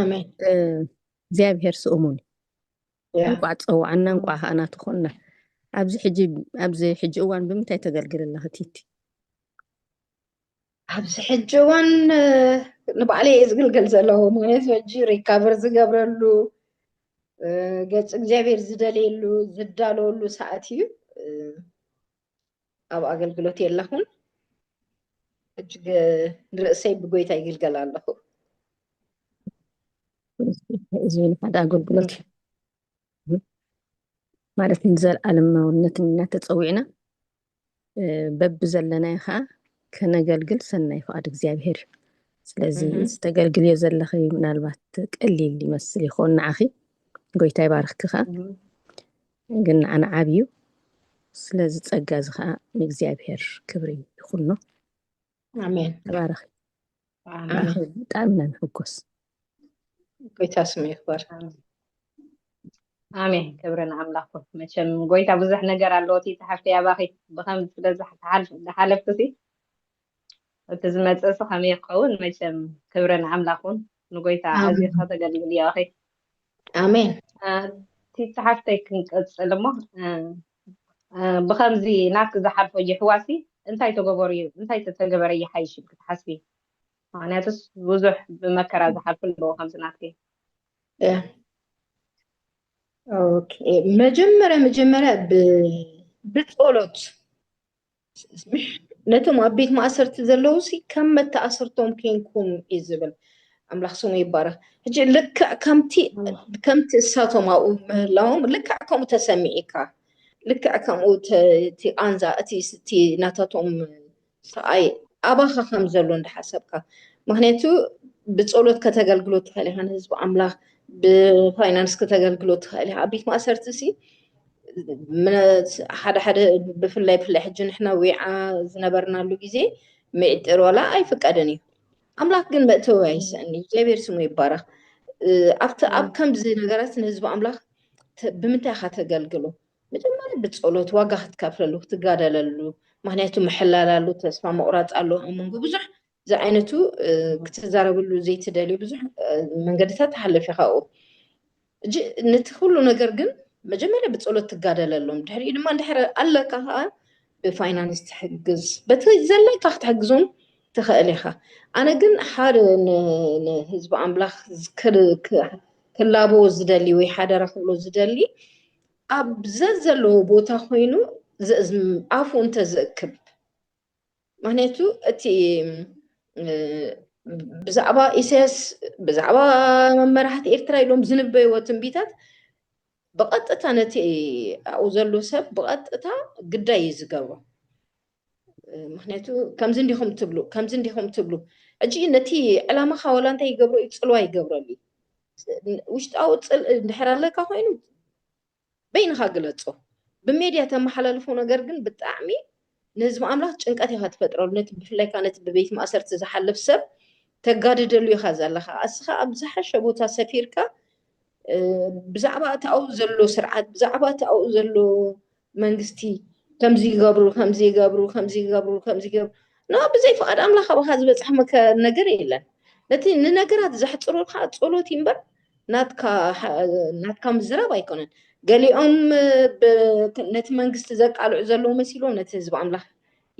ኣሜን እግዚኣብሔር ስእሙን እንቋዕ ፀዋዕና እንቋዕ ከዓ ናቱ ኮንና ኣብዚ ሕጂ ኣብዚ ሕጂ እዋን ብምንታይ ተገልግል ኣለኺ ቲቲ ኣብዚ ሕጂ እዋን ንባዕለይ እየ ዝግልገል ዘለኹ ምክንያቱ ሕጂ ሪካቨር ዝገብረሉ ገፅ እግዚኣብሔር ዝደልየሉ ዝዳለወሉ ሰዓት እዩ ኣብ ኣገልግሎት የለኹን ሕጂ ንርእሰይ ብጎይታ ይግልገል ኣለኹ እዚ ሓደ ኣገልግሎት እዩ ማለት ንዘለኣለማውነት እናተፀዊዕና በቢ ዘለናዮ ከዓ ከነገልግል ሰናይ ፍቓድ እግዚኣብሄር እዩ ስለዚ ዝተገልግልዮ ዘለኺ ምናልባት ቀሊል ይመስል ይኸውን ንዓኺ ጎይታ ይባርኽኪ ከዓ ግን ንዓና ዓቢ እዩ ስለዚ ጸጋ እዚ ከኣ ንእግዚኣብሔር ክብሪ ይኹኖ ኣሜን ተባረኺ ኣሜን ብጣዕሚ ኢና ንሕጎስ ጎይታ ስሙ ይክበር ኣሜን ክብሪ ንኣምላኽ ኩን መቸም ጎይታ ብዙሕ ነገር ኣለዎ እቲ ዝሓፍተይ ኣባኺ ብከምዚ ስለ ዝሓልፍ- ዝሓለፍኩ ሲ እቲ ዝመጽእ ሲ ከመይ ክኸውን መቸም ክብሪ ንኣምላኽ ውን ንጎይታ ኣዚኺ ከተገልግልዮ ኢኺ ኣሜን እቲ ጸሓፍተይ ክንቅጽል እሞ ብከምዚ ናትኪ ዝሓልፎ የሕዋሲ እንታይ ተገበሩ እዩ እንታይ ተተገበረ ይሓይሽ ኢልኪ ትሓስቢ ምክንያቱስ ብዙሕ ብመከራ ዝሓልፉ ኣለዎ ከምዚ ናትኪ መጀመርያ መጀመርያ ብጸሎት ነቶም ኣብ ቤት ማእሰርቲ ዘለዉ ሲ ከም መተኣሰርቶም ኬንኩም እዩ ዝብል ኣምላኽ ስሙ ይባረኽ ሕጂ ልክዕ ከምቲ ከምቲ እሳቶም ኣብኡ ምህላዎም ልክዕ ከምኡ ተሰሚዒካ ልክዕ ከምኡ እቲ ቃንዛ እቲ እቲ ናታቶም ሰብኣይ ኣባኻ ከም ዘሎ እንዳሓሰብካ ምክንያቱ ብፀሎት ከተገልግሎ ትኽእል ኢኻ ንህዝቢ ኣምላኽ ብፋይናንስ ከተገልግሎ ትኽእል ኢኻ ኣብ ቤት ማእሰርቲ ሲ ሓደ ሓደ ብፍላይ ብፍላይ ሕጂ ንሕና ዊዓ ዝነበርናሉ ግዜ ሚዕጢር ዋላ ኣይፍቀድን እዩ ኣምላክ ግን መእተዊ ኣይስእን እዩ እግዚኣብሔር ስሙ ይባረክ ኣብቲ ኣብ ከምዚ ነገራት ንህዝቢ ኣምላክ ብምንታይ ኢካ ተገልግሎ መጀመርያ ብፀሎት ዋጋ ክትከፍለሉ ክትጋደለሉ ምክንያቱ ምሕላል ኣሎ ተስፋ ምቁራፅ ኣሎ ኣብ መንጎ ብዙሕ ዝዓይነቱ ክትዛረብሉ ዘይትደልዩ ብዙሕ መንገድታት ትሓልፍ ኢኻ ኣብኡ እጂ ነቲ ኩሉ ነገር ግን መጀመርያ ብፀሎት ትጋደለሎም ድሕሪኡ ድማ እንድሕር ኣለካ ከዓ ብፋይናንስ ትሕግዝ በቲ ዘለካ ክትሕግዞም ትኽእል ኢኻ ኣነ ግን ሓደ ንህዝቢ ኣምላኽ ክላቦ ዝደሊ ወይ ሓደራ ክብሎ ዝደሊ ኣብ ዘዘለዎ ቦታ ኮይኑ ኣፉ እንተዝእክብ ምክንያቱ እቲ ብዛዕባ ኢሳያስ ብዛዕባ መራሕቲ ኤርትራ ኢሎም ዝንበይዎ ትንቢታት ብቐጥታ ነቲ ኣብኡ ዘሎ ሰብ ብቐጥታ ግዳይ እዩ ዝገብሮ ምክንያቱ ከምዚ እንዲኹም ትብሉ ከምዚ እንዲኹም ትብሉ ሕጂ ነቲ ዕላማኻ ዋላ እንታይ ይገብሮ እዩ ፅልዋ ይገብረሉ ውሽጣዊ ፅል እንድሕር ኣለካ ኮይኑ በይንኻ ግለጾ ብሜድያ ተማሓላልፎ ነገር ግን ብጣዕሚ ንህዝቢ ኣምላኽ ጭንቀት ኢኻ ትፈጥረሉ ነቲ ብፍላይ ከኣ ነቲ ብቤት ማእሰርቲ ዝሓልፍ ሰብ ተጋድደሉ ኢኻ ዘለኻ ኣስኻ ኣብ ዝሓሸ ቦታ ሰፊርካ ብዛዕባ እቲ ኣብኡ ዘሎ ስርዓት ብዛዕባ እቲ ኣብኡ ዘሎ መንግስቲ ከምዚ ይገብሩ ከምዚ ይገብሩ ከምዚ ይገብሩ ከምዚ ይገብሩ ና ብዘይ ፍቓድ ኣምላኽ ኣባኻ ዝበጽሐ ነገር የለን ነቲ ንነገራት ዘሕጽሩልካ ጸሎት እምበር ናትካ ምዝራብ ኣይኮነን። ገሊኦም ነቲ መንግስቲ ዘቃልዑ ዘለዉ መሲሎም ነቲ ህዝቢ ኣምላኽ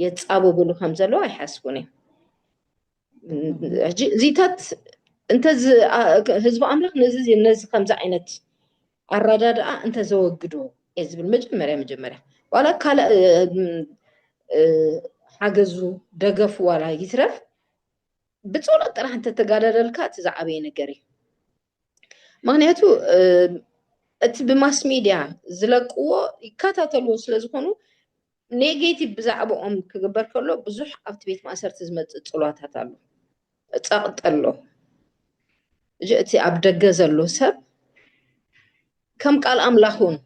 የጻብብሉ ከም ዘለዉ ኣይሓስቡን እዮም። ሕጂ እዚታት እንተ ህዝቢ ኣምላኽ ነዚ ነዚ ከምዚ ዓይነት ኣረዳድኣ እንተ ዘወግዶ እየ ዝብል መጀመርያ መጀመርያ ዋላ ካልእ ሓገዙ ደገፉ ዋላ ይትረፍ ብጸሎት ጥራሕ እንተተጋደለልካ እቲ ዝዓበየ ነገር እዩ ምክንያቱ እቲ ብማስ ሚድያ ዝለቅዎ ይከታተልዎ ስለ ዝኾኑ ኔጌቲቭ ብዛዕባኦም ክግበር ከሎ ብዙሕ ኣብቲ ቤት ማእሰርቲ ዝመፅእ ፅሏታት ኣሎ ፀቕጢ ኣሎ እቲ ኣብ ደገ ዘሎ ሰብ ከም ቃል ኣምላኽ እውን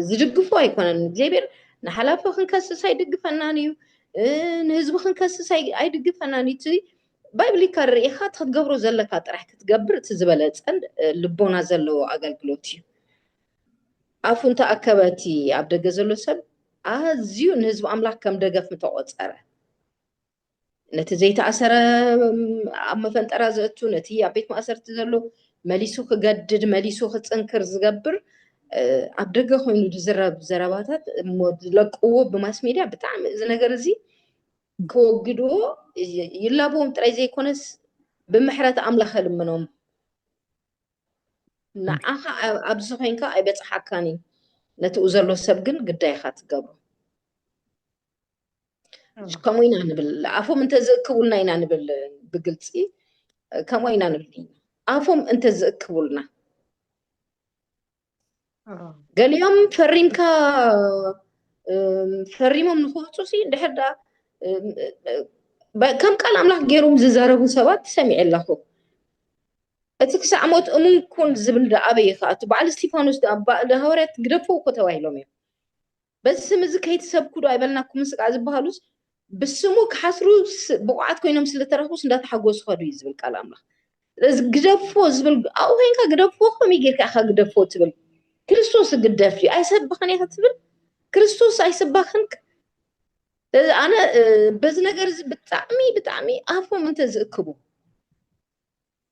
ዝድግፎ ኣይኮነን እግዚኣብሔር ንሓላፊ ክንከስስ ኣይድግፈናን እዩ ንህዝቢ ክንከስስ ኣይድግፈናን እዩ እቲ ባይብሊካ ርኢኻ እቲ ክትገብሮ ዘለካ ጥራሕ ክትገብር እቲ ዝበለፀን ልቦና ዘለዎ ኣገልግሎት እዩ ኣፉ እንተኣከበ እቲ ኣብ ደገ ዘሎ ሰብ ኣዝዩ ንህዝቢ ኣምላክ ከም ደገፍ ምተቆፀረ ነቲ ዘይተኣሰረ ኣብ መፈንጠራ ዘእቱ ነቲ ኣብ ቤት ማእሰርቲ ዘሎ መሊሱ ክገድድ መሊሱ ክፅንክር ዝገብር ኣብ ደገ ኮይኑ ዝዝረብ ዘረባታት እሞ ዝለቅዎ ብማስ ሜድያ ብጣዕሚ እዚ ነገር እዚ ክወግድዎ ይላብዎም ጥራይ ዘይኮነስ ብምሕረት ኣምላኽ ልምኖም ንዓኻ ኣብዚ ኮይንካ ኣይበፅሓካን እዩ ነቲኡ ዘሎ ሰብ ግን ግዳይካ ትገብሮ ከምኡ ኢና ንብል ኣፎም እንተዝእክቡልና ኢና ንብል ብግልፂ ከምኡ ኢና ንብል ኣፎም እንተዝእክቡልና ገሊኦም ፈሪምካ ፈሪሞም ንክወፁ ሲ እንድሕር ደኣ ከም ቃል ኣምላኽ ገይሮም ዝዛረቡ ሰባት ሰሚዐ ኣለኹ እቲ ክሳዕ ሞት እሙን ኩን ዝብል ደኣ ኣበይ ከኣ እቲ በዓል እስጢፋኖስ ደኣ ሃዋርያት ግደፍዎ እኮ ተባሂሎም እዮም በዚ ስም እዚ ከይትሰብኩ ዶ ኣይበልናኩምን ስጋዕ ዝበሃሉስ ብስሙ ክሓስሩ ብቑዓት ኮይኖም ስለ ተረኽቡስ እንዳተሓጎሱ ከዱ እዩ ዝብል ቃል ኣምላኽ ስለዚ ግደፎ ዝብል ኣብኡ ኮይንካ ግደፎ ከመይ ጌርካ ኢኻ ግደፎ ትብል ክርስቶስ ግደፍ ድዩ ኣይሰብኽን ኢኻ ትብል ክርስቶስ ኣይሰባኽን ስለዚ ኣነ በዚ ነገር እዚ ብጣዕሚ ብጣዕሚ ኣፎም እንተ ዝእክቡ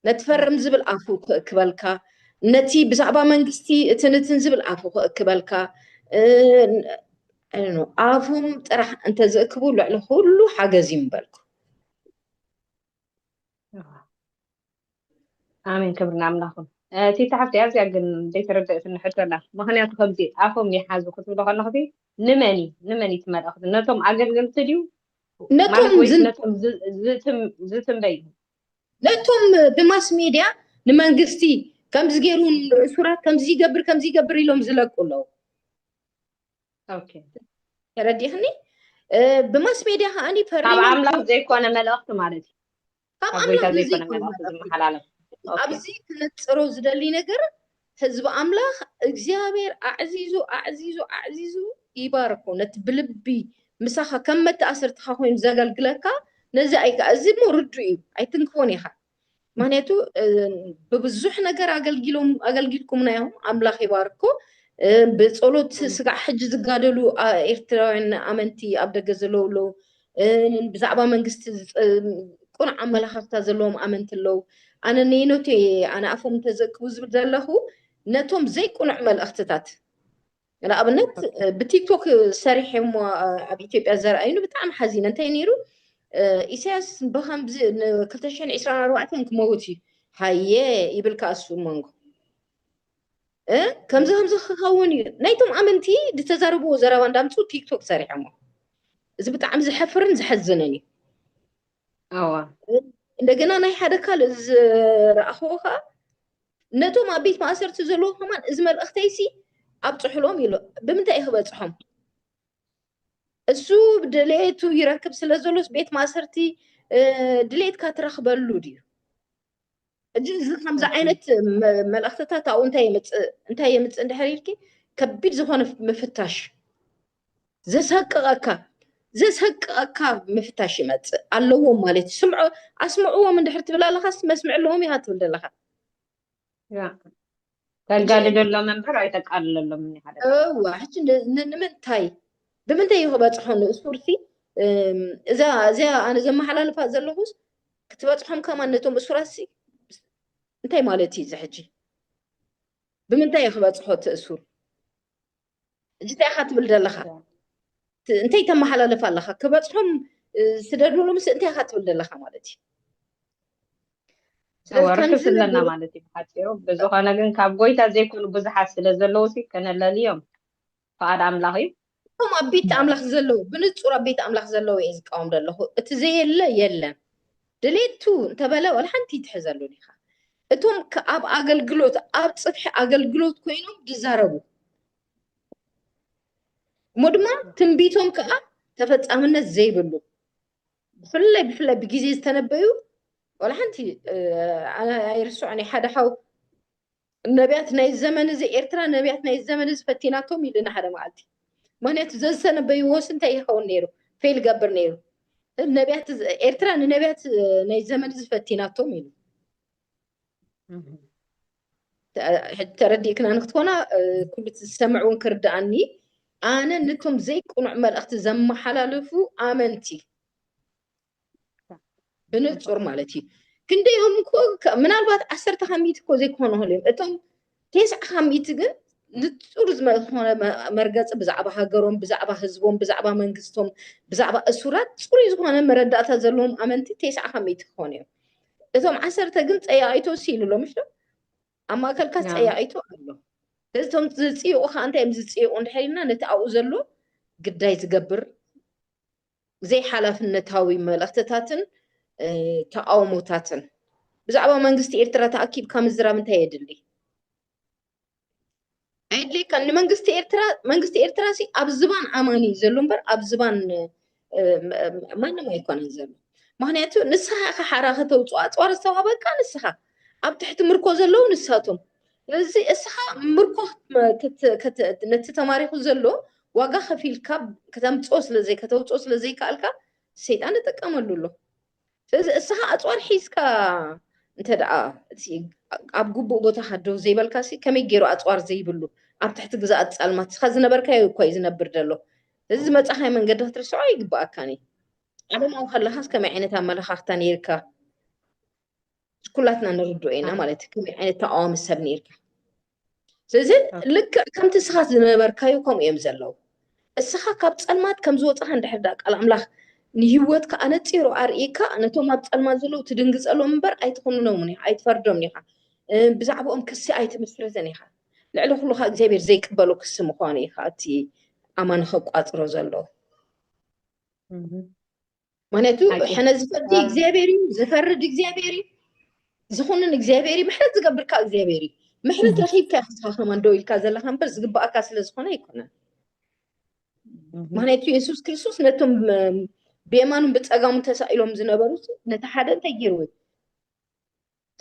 ነቲ ፈርም ዝብል ኣፉ ክእክበልካ፣ ነቲ ብዛዕባ መንግስቲ እትንትን ዝብል ኣፉ ክእክበልካ፣ ኣፎም ጥራሕ እንተዝእክቡ ልዕሊ ኩሉ ሓገዝ እዩ ምበልኩ። ኣሜን ክብሪ ንኣምላኽ ይኹን። ቲታ ሓፍቲ ኣዝያ ግን ዘይተረድእትኒ ሕቶ ኣላ። ምኽንያቱ ከምዚ ኣፎም ይሓዙ ክትብሎ ከለኹ ንመን እዩ ንመን እቲ መልእኽቲ ነቶም ኣገልገልቲ ድዩ ነቶም ዝትንበዩ ነቶም ብማስ ሜድያ ንመንግስቲ ከምዚ ገይሩ እሱራት ከምዚ ይገብር ከምዚ ይገብር ኢሎም ዝለቁ ኣለዉ ተረዲኽኒ ብማስ ሜድያ ከዓኒ ካብ ኣምላኽ ዘይኮነ መልእኽቲ ማለት እዩ ካብ ኣምላኽ ዘይኮነ መልእኽቲ ዝመሓላለፍ ኣብዚ ክነፅሮ ዝደሊ ነገር ህዝቢ ኣምላኽ እግዚኣብሔር ኣዕዚዙ ኣዕዚዙ ኣዕዚዙ ይባርኮ ነቲ ብልቢ ምሳኻ ከም መተኣሰርትኻ ኮይኑ ዘገልግለካ ነዚ ኣይካ እዚ እሞ ርዱእ እዩ ኣይትንክፎን ኢኻ ምክንያቱ ብብዙሕ ነገር ኣገልጊሎም ኣገልጊልኩምና እዮም ኣምላኽ ይባርኮ ብፀሎት ስጋዕ ሕጂ ዝጋደሉ ኤርትራውያን ኣመንቲ ኣብ ደገ ዘለውለው ብዛዕባ መንግስቲ ቅኑዕ ኣመለኻኽታ ዘለዎም ኣመንቲ ኣለዉ። ኣነ ነየነቱ እየ ኣነ ኣፎም እንተዘእክቡ ዝብል ዘለኹ ነቶም ዘይቅኑዕ መልእኽትታት ንኣብነት ብቲክቶክ ሰሪሐ እሞ ኣብ ኢትዮጵያ ዘርኣዩኒ ብጣዕሚ ሓዚነ እንታይ ነይሩ ኢሳያስ ብከምዚ ን224 ክመውት እዩ ሃየ ይብል ከኣ እሱ መንጎ ከምዚ ከምዚ ክኸውን እዩ ናይቶም ኣመንቲ ዝተዛረብዎ ዘረባ እንዳምፁ ቲክቶክ ሰሪሖሞ እዚ ብጣዕሚ ዘሐፍርን ዘሐዝንን እዩ ኣዋ እንደገና ናይ ሓደ ካልእ ዝረኣኽዎ ከዓ ነቶም ኣብ ቤት ማእሰርቲ ዘለዎ ከማን እዚ መልእኽተይሲ ኣብፅሑሎም ኢሉ ብምንታይ እዩ ክበፅሖም እሱ ድሌቱ ይረክብ ስለ ዘሎስ ቤት ማእሰርቲ ድሌትካ ትረክበሉ ድዩ ሕጂ እዚ ከምዚ ዓይነት መልእኽትታት ኣብኡ እንታይ የምፅእ እንታይ የምፅእ እንድሕር ኢልኪ ከቢድ ዝኾነ ምፍታሽ ዘሰቅቐካ ዘሰቅቐካ ምፍታሽ ይመፅእ ኣለዎም ማለት እዩ ስምዖ ኣስምዕዎም እንድሕር ትብል ኣለኻስ መስምዕ ኣለዎም ኢኻ ትብል ዘለኻ ተጋድደሎም እምበር ኣይተቃልለሎም ሓደ እዋ ሕጂ ንምንታይ ብምንታይ እዩ ክበፅሖ ንእሱርሲ እዛ እዚኣ ኣነ ዘመሓላልፋ ዘለኹስ ክትበፅሖም ከማ ነቶም እሱራሲ እንታይ ማለት እዩ እዚ ሕጂ ብምንታይ እዩ ክበፅሖ እቲ እሱር ሕጂ እንታይ ኢኻ ትብል ዘለኻ እንታይ ተመሓላልፍ ኣለኻ ክበፅሖም ስደድሉ ምስ እንታይ ኢኻ ትብል ዘለኻ ማለት እዩ ወርክስ ኣለና ማለት እዩ ብሓፂሩ ብዝኾነ ግን ካብ ጎይታ ዘይኮኑ ብዙሓት ስለ ዘለዉ ሲ ከነለልዮም ፍቓድ ኣምላኽ እዩ እቶም ኣብ ቤት ኣምላኽ ዘለዉ ብንፁር ኣብ ቤት ኣምላኽ ዘለዉ እየ ዝቃወም ዘለኹ እቲ ዘየለ የለን ድሌቱ እንተበለ ዋላ ሓንቲ ይትሕዘሉን ኢኻ እቶም ኣብ ኣገልግሎት ኣብ ጽፍሒ ኣገልግሎት ኮይኖም ዝዛረቡ እሞ ድማ ትንቢቶም ከዓ ተፈጻምነት ዘይብሉ ብፍላይ ብፍላይ ብግዜ ዝተነበዩ ዋላ ሓንቲ ኣይርስዖን ሓደ ሓው ነብያት ናይዚ ዘመን እዚ ኤርትራ ነብያት ናይዚ ዘመን እዚ ፈቲናቶም እዩ ድናሓደ መዓልቲ ምክንያቱ ዘዝተነበይዎስ እንታይ ይኸውን ነይሩ ፌል ይገብር ነይሩ ነብያት ኤርትራ ንነብያት ናይ ዘመን እዚ ፈቲናቶም እዩ ተረዲእክና ንክትኮና ኩሉ ዝሰምዕ እውን ክርድኣኒ ኣነ ነቶም ዘይቅኑዕ መልእኽቲ ዘመሓላለፉ ኣመንቲ ብንጹር ማለት እዩ ክንደይኦም እኮ ምናልባት ዓሰርተ ካሚት እኮ ዘይኮኑ ሆል እዮም እቶም ቴስዓ ካሚት ግን ንጹር ዝኾነ መርገፂ ብዛዕባ ሃገሮም ብዛዕባ ህዝቦም ብዛዕባ መንግስቶም ብዛዕባ እሱራት ፅሩይ ዝኾነ መረዳእታ ዘለዎም ኣመንቲ ቴስዓ ካሚት ክኾኑ እዮም እቶም ዓሰርተ ግን ፀያቂቶ ሲኢሉ ኣሎ ምሽ ኣብ ማእከልካ ፀያቂቶ ኣሎ እቶም ዝፅይቑ ከዓ እንታይ እዮም ዝፅይቑ እንድሕር ኢልና ነቲ ኣብኡ ዘሎ ግዳይ ዝገብር ዘይሓላፍነታዊ መልእኽትታትን ተቓውሞታትን። ብዛዕባ መንግስቲ ኤርትራ ተኣኪብካ ምዝራብ እንታይ የድሊ? ኣይድልየካን። ንመንግስቲ ኤርትራ መንግስቲ ኤርትራ ሲ ኣብ ዝባን ኣማኒ እዩ ዘሎ እምበር ኣብ ዝባን ማንም ኣይኮነን ዘሎ። ምክንያቱ ንስኻ ኢኻ ሓራ ከተውፅኦ ኣፅዋር ዝተዋህበካ ንስኻ፣ ኣብ ትሕቲ ምርኮ ዘለዉ ንሳቶም፣ እዚ እስኻ ምርኮ ነቲ ተማሪኹ ዘሎ ዋጋ ከፊልካ ከተምፅኦ ስለዘይ ከተውፅኦ ስለዘይከኣልካ ሰይጣን ተጠቀመሉ ኣሎ ስለዚ እስኻ ኣፅዋር ሒዝካ እንተ ደኣ እቲ ኣብ ግቡእ ቦታኻ ደው ዘይበልካ ሲ ከመይ ገይሩ ኣፅዋር ዘይብሉ ኣብ ትሕቲ ግዛኣት ፃልማት እስኻ ዝነበርካዮ እኳ እዩ ዝነብር ዘሎ እዚ ዝመፃኻዮ መንገዲ ክትርስዖ ኣይግበኣካን እዩ ዓለማዊ ከለኻስ ከመይ ዓይነት ኣመለኻኽታ ነይርካ ኩላትና ንርድኦ ኢና ማለት እዩ ከመይ ዓይነት ተቃዋሚ ሰብ ነይርካ ስለዚ ልክዕ ከምቲ እስኻ ዝነበርካዩ ከምኡ እዮም ዘለዉ እስኻ ካብ ፀልማት ከም ዝወፅኻ እንድሕር ዳ ቃል ኣምላኽ ንሂወትካ ኣነፂሩ ኣርእካ ነቶም ኣብ ፀልማት ዘለዉ ትድንግፀሎም እምበር ኣይትኹንኖምን ኢኻ ኣይትፈርዶምን ኢኻ ብዛዕባኦም ክሲ ኣይትምስርትን ኢኻ ልዕሊ ኩሉ ከዓ እግዚኣብሔር ዘይቅበሎ ክሲ ምዃኑ ኢኻ እቲ ኣማን ከቋፅሮ ዘሎ ምክንያቱ ሕነ ዝፈርድ እግዚኣብሔር እዩ ዝፈርድ እግዚኣብሔር እዩ ዝኹንን እግዚኣብሔር እዩ ምሕረት ዝገብርካ እግዚኣብሔር እዩ ምሕረት ረኪብካ ክስኻ ከማን ደው ኢልካ ዘለካ እምበር ዝግባኣካ ስለዝኮነ ኣይኮነን ምክንያቱ የሱስ ክርስቶስ ነቶም ብየማኑን ብፀጋሙን ተሳኢሎም ዝነበሩ ነቲ ሓደ እንታይ ገይርዎ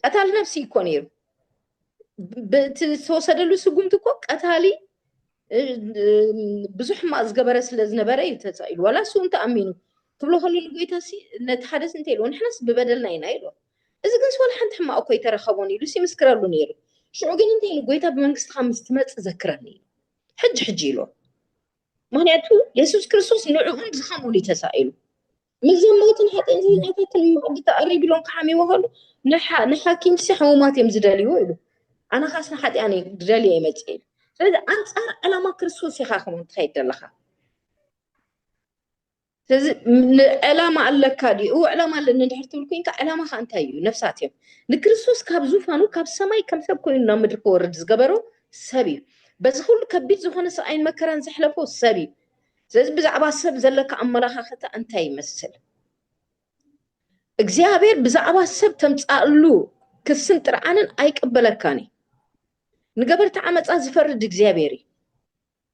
ቀታል ነብሲ እኮ ነይሩ ብእቲ ዝተወሰደሉ ስጉምቲ እኮ ቀታሊ ብዙሕ ሕማቅ ዝገበረ ስለ ዝነበረ እዩ ተፃኢሉ ዋላ እሱ እንተኣሚኑ ትብሎ ከሎ ንጎይታ ሲ ነቲ ሓደ ሲ እንታይ ኢልዎ ንሕናስ ብበደልና ኢና ኢልዎ እዚ ግን ስዋላ ሓንቲ ሕማቅ እኮ ይተረኸቦን ኢሉ ሲምስክረሉ ነይሩ ሽዑ ግን እንታይ ኢሉ ጎይታ ብመንግስትኻ ምስ ትመፅእ ዘክረኒ ኢሉ ሕጂ ሕጂ ኢልዎ ምክንያቱ የሱስ ክርስቶስ ንዕኡን ዝኸምኡን እዩ ተሳኢሉ ምስዞም ሞትን ሓጢን ዝኛታትን መቕዲ ተቐሪብሎም ክሓሚዎ ከሉ ንሓኪምሲ ሕሙማት እዮም ዝደልዩ ኢሉ ኣነ ካስ ንሓጢኣን ዝደልየ ይመፅእ ኢሉ ስለዚ ኣንፃር ዕላማ ክርስቶስ ኢኻ ከም ትኸይድ ዘለኻ ስለዚ ዕላማ ኣለካ ድዩ እው ዕላማ ኣለኒ ድሕር ትብል ኮንካ ዕላማኻ እንታይ እዩ ነፍሳት እዮም ንክርስቶስ ካብ ዙፋኑ ካብ ሰማይ ከም ሰብ ኮይኑ ናብ ምድሪ ክወርድ ዝገበሮ ሰብ እዩ በዚ ኩሉ ከቢድ ዝኾነ ሰብኣይን መከራን ዘሕለፎ ሰብ እዩ ስለዚ ብዛዕባ ሰብ ዘለካ ኣመላኻኽታ እንታይ ይመስል? እግዚኣብሔር ብዛዕባ ሰብ ተምጻእሉ ክስን ጥርዓንን ኣይቅበለካን እዩ። ንገበርቲ ዓመፃ ዝፈርድ እግዚኣብሔር እዩ።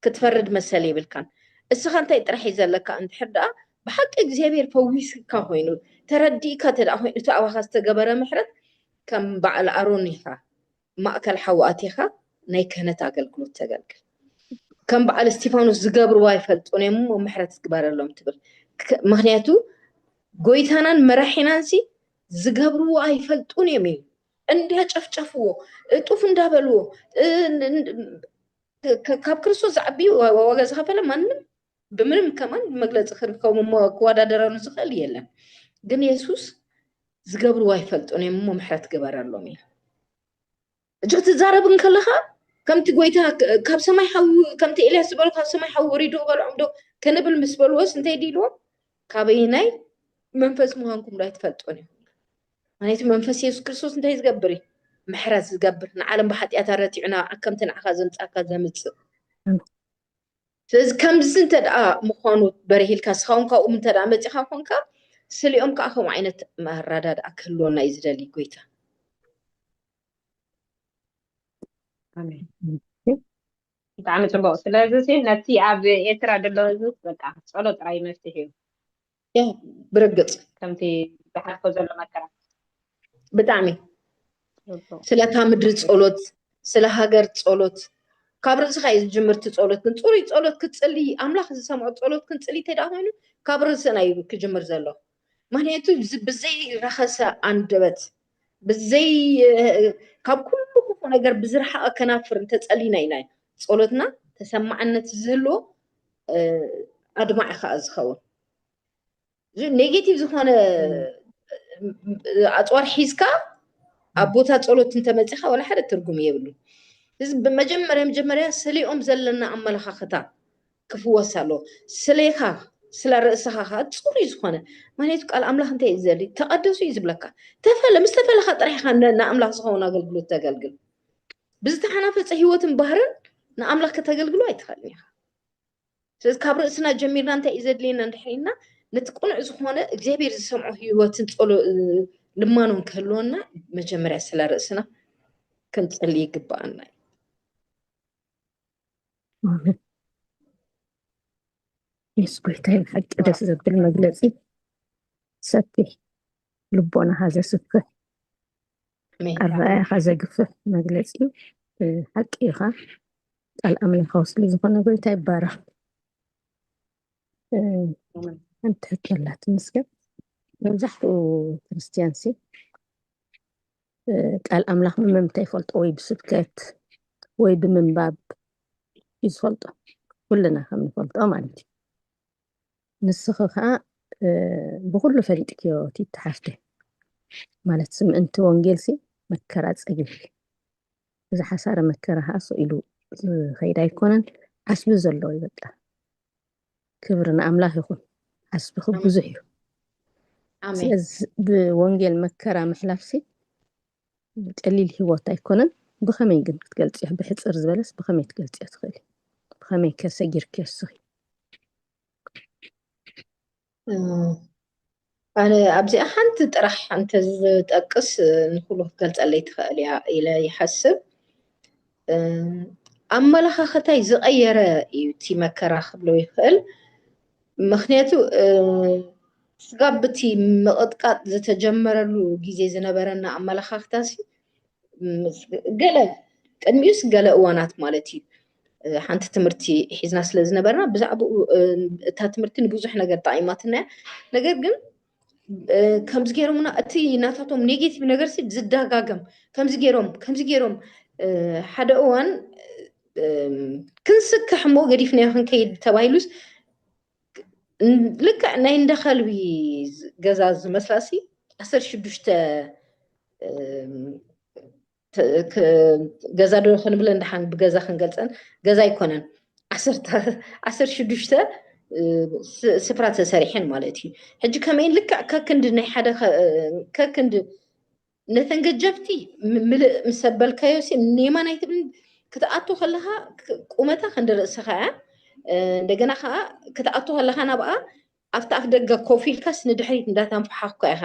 ክትፈርድ መሰል የብልካን። እስኻ እንታይ ጥራሕ እዩ ዘለካ እንድሕር ደኣ ብሓቂ እግዚኣብሔር ፈዊስካ ኮይኑ ተረዲእካ እተ ኮይኑ እቲ ኣባኻ ዝተገበረ ምሕረት ከም በዓል ኣሮን ኢኻ ማእከል ሓዊ ኣቲኻ ናይ ክህነት ኣገልግሎት ተገልግል። ከም በዓል እስቲፋኖስ ዝገብርዎ ኣይፈልጡን እዮም እሞ ምሕረት ዝግበረሎም ትብል። ምክንያቱ ጎይታናን መራሒናን ሲ ዝገብርዎ ኣይፈልጡን እዮም እዩ እንዳጨፍጨፍዎ እጡፍ እንዳበልዎ ካብ ክርስቶስ ዝዓቢ ዋጋ ዝኸፈለ ማንም ብምንም ከማን መግለፂ ክርከቡ እሞ ክወዳደረኑ ዝኽእል የለን ግን የሱስ ዝገብርዎ ኣይፈልጡን እዮም እሞ ምሕረት ግበረሎም እዩ እጅ ክትዛረብ እንከለኻ ከምቲ ጎይታ ካብ ሰማይ ሓዊ ከምቲ ኤልያስ ዝበሎ ካብ ሰማይ ሓዊ ወሪዱ ክበልዖም ዶ ክንብል ምስ በልዎስ እንታይ ድኢልዎ ካበየናይ መንፈስ ምዃንኩም ዶ ኣይትፈልጡን እዩ ምክንያቱ መንፈስ የሱስ ክርስቶስ እንታይ ዝገብር እዩ ምሕረት ዝገብር ንዓለም ብሓጢኣታ ረቲዑ ናብ ከምቲ ንዓኻ ዘምፃካ ዘምፅእ ስለዚ ከምዚ እንተ ምዃኑ በሪሂልካ ስኻውን ካብኡም እንተ መፂኻ ኮንካ ስሊኦም ከዓ ከምኡ ዓይነት ኣራዳድኣ ክህልወና እዩ ዝደሊ ጎይታ ብጣዕሚ ፅቡቅ ስለዚ ነቲ ኣብ ኤርትራ ዘሎ ህዝቢ በቃ ፀሎ ጥራይ መፍትሒ እዩ ያ ብርግፅ ከምቲ ዝሓልፎ ዘሎ መከራ ብጣዕሚ ጽቡቅ ስለታ ምድሪ ጸሎት ስለ ሃገር ጸሎት ካብ ርእስኻ እዩ ዝጅምር እቲ ጸሎት ግን ጽሩይ ጸሎት ክትጽሊ ኣምላኽ ዝሰምዖ ጸሎት ክንጽሊ እንተደኣ ኮይኑ ካብ ርእስና እዩ ክጅምር ዘሎ ምክንያቱ እዚ ብዘይ ረኸሰ ኣንደበት ብዘይ እ፣ ካብ ኩሉ ክፉእ ነገር ብዝረሓቐ ከናፍር እንተጸሊና ኢና ጸሎትና ተሰማዕነት ዝህልዎ ኣድማዒ ከዓ ዝኸውን እዚ ኔጌቲቭ ዝኾነ ኣፅዋር ሒዝካ ኣብ ቦታ ፀሎት እንተመፂኻ ዋላ ሓደ ትርጉም የብሉ እዚ ብመጀመርያ መጀመርያ ስሌኦም ዘለና ኣመለኻኽታ ክፍወስ ኣሎ ስሌኻ ስለ ርእስኻ ከዓ ፅሩይ ዝኾነ ምክንያቱ ቃል ኣምላኽ እንታይ እዩ ዘድሊ ተቐደሱ እዩ ዝብለካ ተፈለ ምስ ተፈለኻ ጥራሕኻ ንኣምላኽ ዝኸውን ኣገልግሎት ተገልግል ብዝተሓናፈፀ ህይወትን ባህርን ንኣምላኽ ከተገልግሎ ኣይትኽእልን ኢኻ ስለዚ ካብ ርእስና ጀሚርና እንታይ እዩ ዘድልየና እንድሕር ኢልና ነቲ ቅኑዕ ዝኾነ እግዚኣብሔር ዝሰምዖ ህይወትን ጸሎ ልማኖን ክህልወና መጀመርያ ስለ ርእስና ክንጽሊ ይግባኣና እዩ የሱስ ጎይታ ይብሓቂ ደስ ዘብል መግለፂ ሰፊ ልቦናኻ ዘስፍሕ ኣረኣያኻ ዘግፍሕ መግለፂ ሓቂ ኢኻ ቃል ኣምላካዊ ስለ ዝኾነ ጎይታ ይባረኽ ሓንቲ ሕቶ ኣላት ምስገብ መብዛሕትኡ ክርስትያን ሲ ቃል ኣምላኽ ብመምታይ ይፈልጦ ወይ ብስብከት ወይ ብምንባብ እዩ ዝፈልጦ ኩልና ከም ንፈልጦ ማለት እዩ ንስኺ ከዓ ብኩሉ ፈሊጥክዮ ትተሓፍተ ማለት ስምእንቲ ወንጌልሲ መከራ ፀጊብኪ እዚ ሓሳረ መከራ ከኣ ስቕ ኢሉ ዝኸይድ ኣይኮነን ዓስቢ ዘለዎ እዩ በቃ። ክብሪ ንኣምላኽ ይኹን ዓስብኺ ብዙሕ እዩ። ኣሜን ስለዚ ብወንጌል መከራ ምሕላፍሲ ቀሊል ህይወት ኣይኮነን። ብኸመይ ግን ክትገልጽዮ ብሕጽር ዝበለስ ብኸመይ ትገልጽዮ ትኽእሊ? ብኸመይ ከ ሰጊርክዮ እስኺ? ኣነ ኣብዚኣ ሓንቲ ጥራሕ እንተዝጠቅስ ንኩሉ ክትገልፀለይ ትኽእል እያ ኢለ ይሓስብ ኣመለኻኸታይ ዝቐየረ እዩ እቲ መከራ ክብሎ ይኽእል ምክንያቱ ስጋብ ብቲ ምቕጥቃጥ ዝተጀመረሉ ግዜ ዝነበረና ኣመለኻኽታ ገለ ቅድሚኡስ ገለ እዋናት ማለት እዩ ሓንቲ ትምህርቲ ሒዝና ስለ ዝነበርና ብዛዕባኡ እታ ትምህርቲ ንብዙሕ ነገር ጠቂማትና እያ ነገር ግን ከምዚ ገይሮምና እቲ ናታቶም ኔጌቲቭ ነገር ሲ ዝደጋገም ከምዚ ገይሮም ከምዚ ገይሮም ሓደ እዋን ክንስክሕ እሞ ገዲፍናዮ ክንከይድ ተባሂሉስ ልክዕ ናይ እንደ ከልቢ ገዛ ዝመስላ ሲ ዓሰርተ ሽዱሽተ ገዛ ዶ ክንብለን ድሓን ብገዛ ክንገልፀን ገዛ ኣይኮነን ዓሰርተ ሽዱሽተ ስፍራ ተሰሪሐን ማለት እዩ ሕጂ ከመይ ልክዕ ከክንዲ ናይ ሓደ ከክንዲ ነተን ገጀፍቲ ምልእ ምስ ኣበልካዮ ሲ ኔማን ኣይትብል ክትኣቱ ከለካ ቁመታ ክንዲ ርእስካ እያ እንደገና ከዓ ክትኣቱ ከለካ ናብኣ ኣብቲ ኣፍደገ ኮፍ ኢልካስ ንድሕሪት እንዳተንፋሓኽካ ኢኻ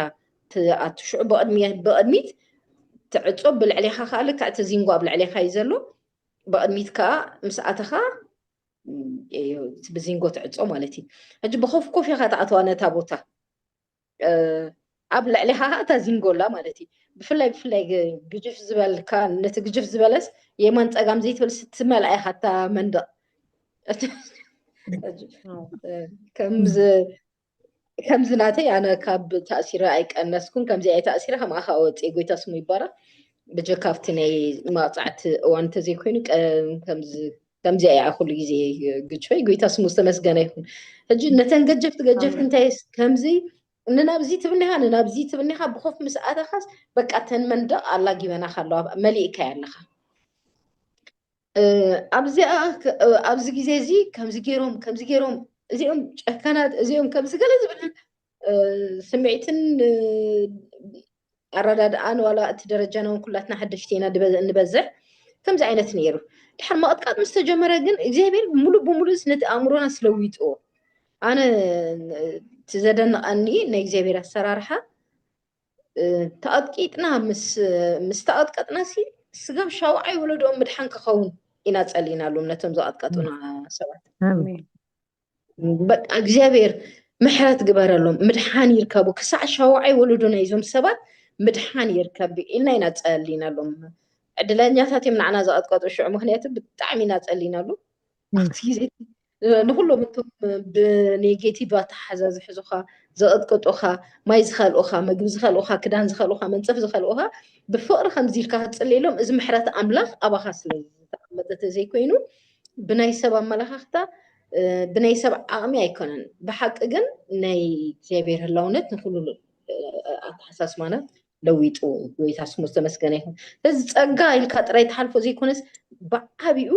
ትኣቱ። ሽዑ ብቕድሚት ትዕጾ፣ ብልዕሌኻ ከኣ ልክዕ እቲ ዚንጎ ኣብ ልዕሌኻ እዩ ዘሎ፣ ብቕድሚት ከኣ ምስ ኣተኻ ብዚንጎ ትዕጾ ማለት እዩ። ሕጂ ብኾፍ ኮፍ ኢኻ ትኣትዋ ነታ ቦታ። ኣብ ልዕሌኻ ከኣ እታ ዚንጎላ ማለት እዩ ብፍላይ ብፍላይ ግጅፍ ዝበልካ ነቲ ግጅፍ ዝበለስ የማን ፀጋም ዘይትብል ስትመልኣ ኢኻ እታ መንደቕ ከምዚ ናተይ ኣነ ካብ ተእሲረ ኣይቀነስኩን ከምዚ ኣይ ተእሲረ ከም ኣኻ ወፂ ጎይታ ስሙ ይባራ ብጀካ ኣብቲ ናይ መቕፃዕቲ እዋን እንተዘይኮይኑ ከምዚ ኣይ ኩሉ ግዜ ግጅፈይ ጎይታ ስሙ ዝተመስገነ ይኹን ሕጂ ነተን ገጀፍቲ ገጀፍቲ እንታይ ከምዚ ንናብዚ ትብኒኻ ንናብዚ ትብኒኻ ብኾፍ ምስ ኣተኻስ በቃ ተን መንደቕ ኣላጊበናኻ ኣለዋ መሊእካያ ኣለኻ ኣብዚኣ ኣብዚ ግዜ እዚ ከምዚ ገይሮም ከምዚ ገይሮም እዚኦም ጨካናት እዚኦም ከምዚ ገለ ዝብል ስምዒትን ኣረዳድኣን ዋላ እቲ ደረጃና እውን ኩላትና ሓደሽቲ ኢና ንበዝሕ ከምዚ ዓይነት ነይሩ ድሓር መቕጥቃጥ ምስ ተጀመረ ግን እግዚኣብሔር ሙሉእ ብሙሉእ ነቲ ኣእምሮና ስለዊጥዎ ኣነ እቲ ዘደንቐኒ ናይ እግዚኣብሔር ኣሰራርሓ ተቐጥቂጥና ምስ ተቐጥቀጥና ሲ ስጋብ ሻውዓይ ወለዶኦም ምድሓን ክኸውን ኢና ጸሊናሉም ነቶም ዝቐጥቀጡና ሰባት በቃ እግዚኣብሔር ምሕረት ግበረሎም ምድሓን ይርከቡ ክሳዕ ሻውዓይ ወለዶ ናይዞም ሰባት ምድሓን ይርከብ ኢልና ኢና ፀሊናሎም ዕድለኛታት እዮም ንዓና ዘቐጥቀጡ ሽዑ ምክንያቱ ብጣዕሚ ኢና ፀሊናሉ ኣብቲ ግዜ ንኩሎም እቶም ብኔጌቲቭ ኣተሓሓዛ ዝሕዙኻ ዘቐጥቅጡኻ ማይ ዝኸልኡኻ ምግቢ ዝኸልኡኻ ክዳን ዝኸልኡኻ መንፀፍ ዝኸልኡኻ ብፍቕሪ ከምዚ ኢልካ ክትፅልየሎም እዚ ምሕረት ኣምላኽ ኣባኻ ስለ ዝተቐመጠ ተዘይኮይኑ ዘይኮይኑ ብናይ ሰብ ኣመላኻኽታ ብናይ ሰብ ዓቕሚ ኣይኮነን ብሓቂ ግን ናይ እግዚኣብሔር ህላውነት ንኩሉ ኣተሓሳስባና ለዊጡ ጎይታ ስሙ ዝተመስገነ ይኹን ስለዚ ፀጋ ኢልካ ጥራይ ተሓልፎ ዘይኮነስ ብዓብኡ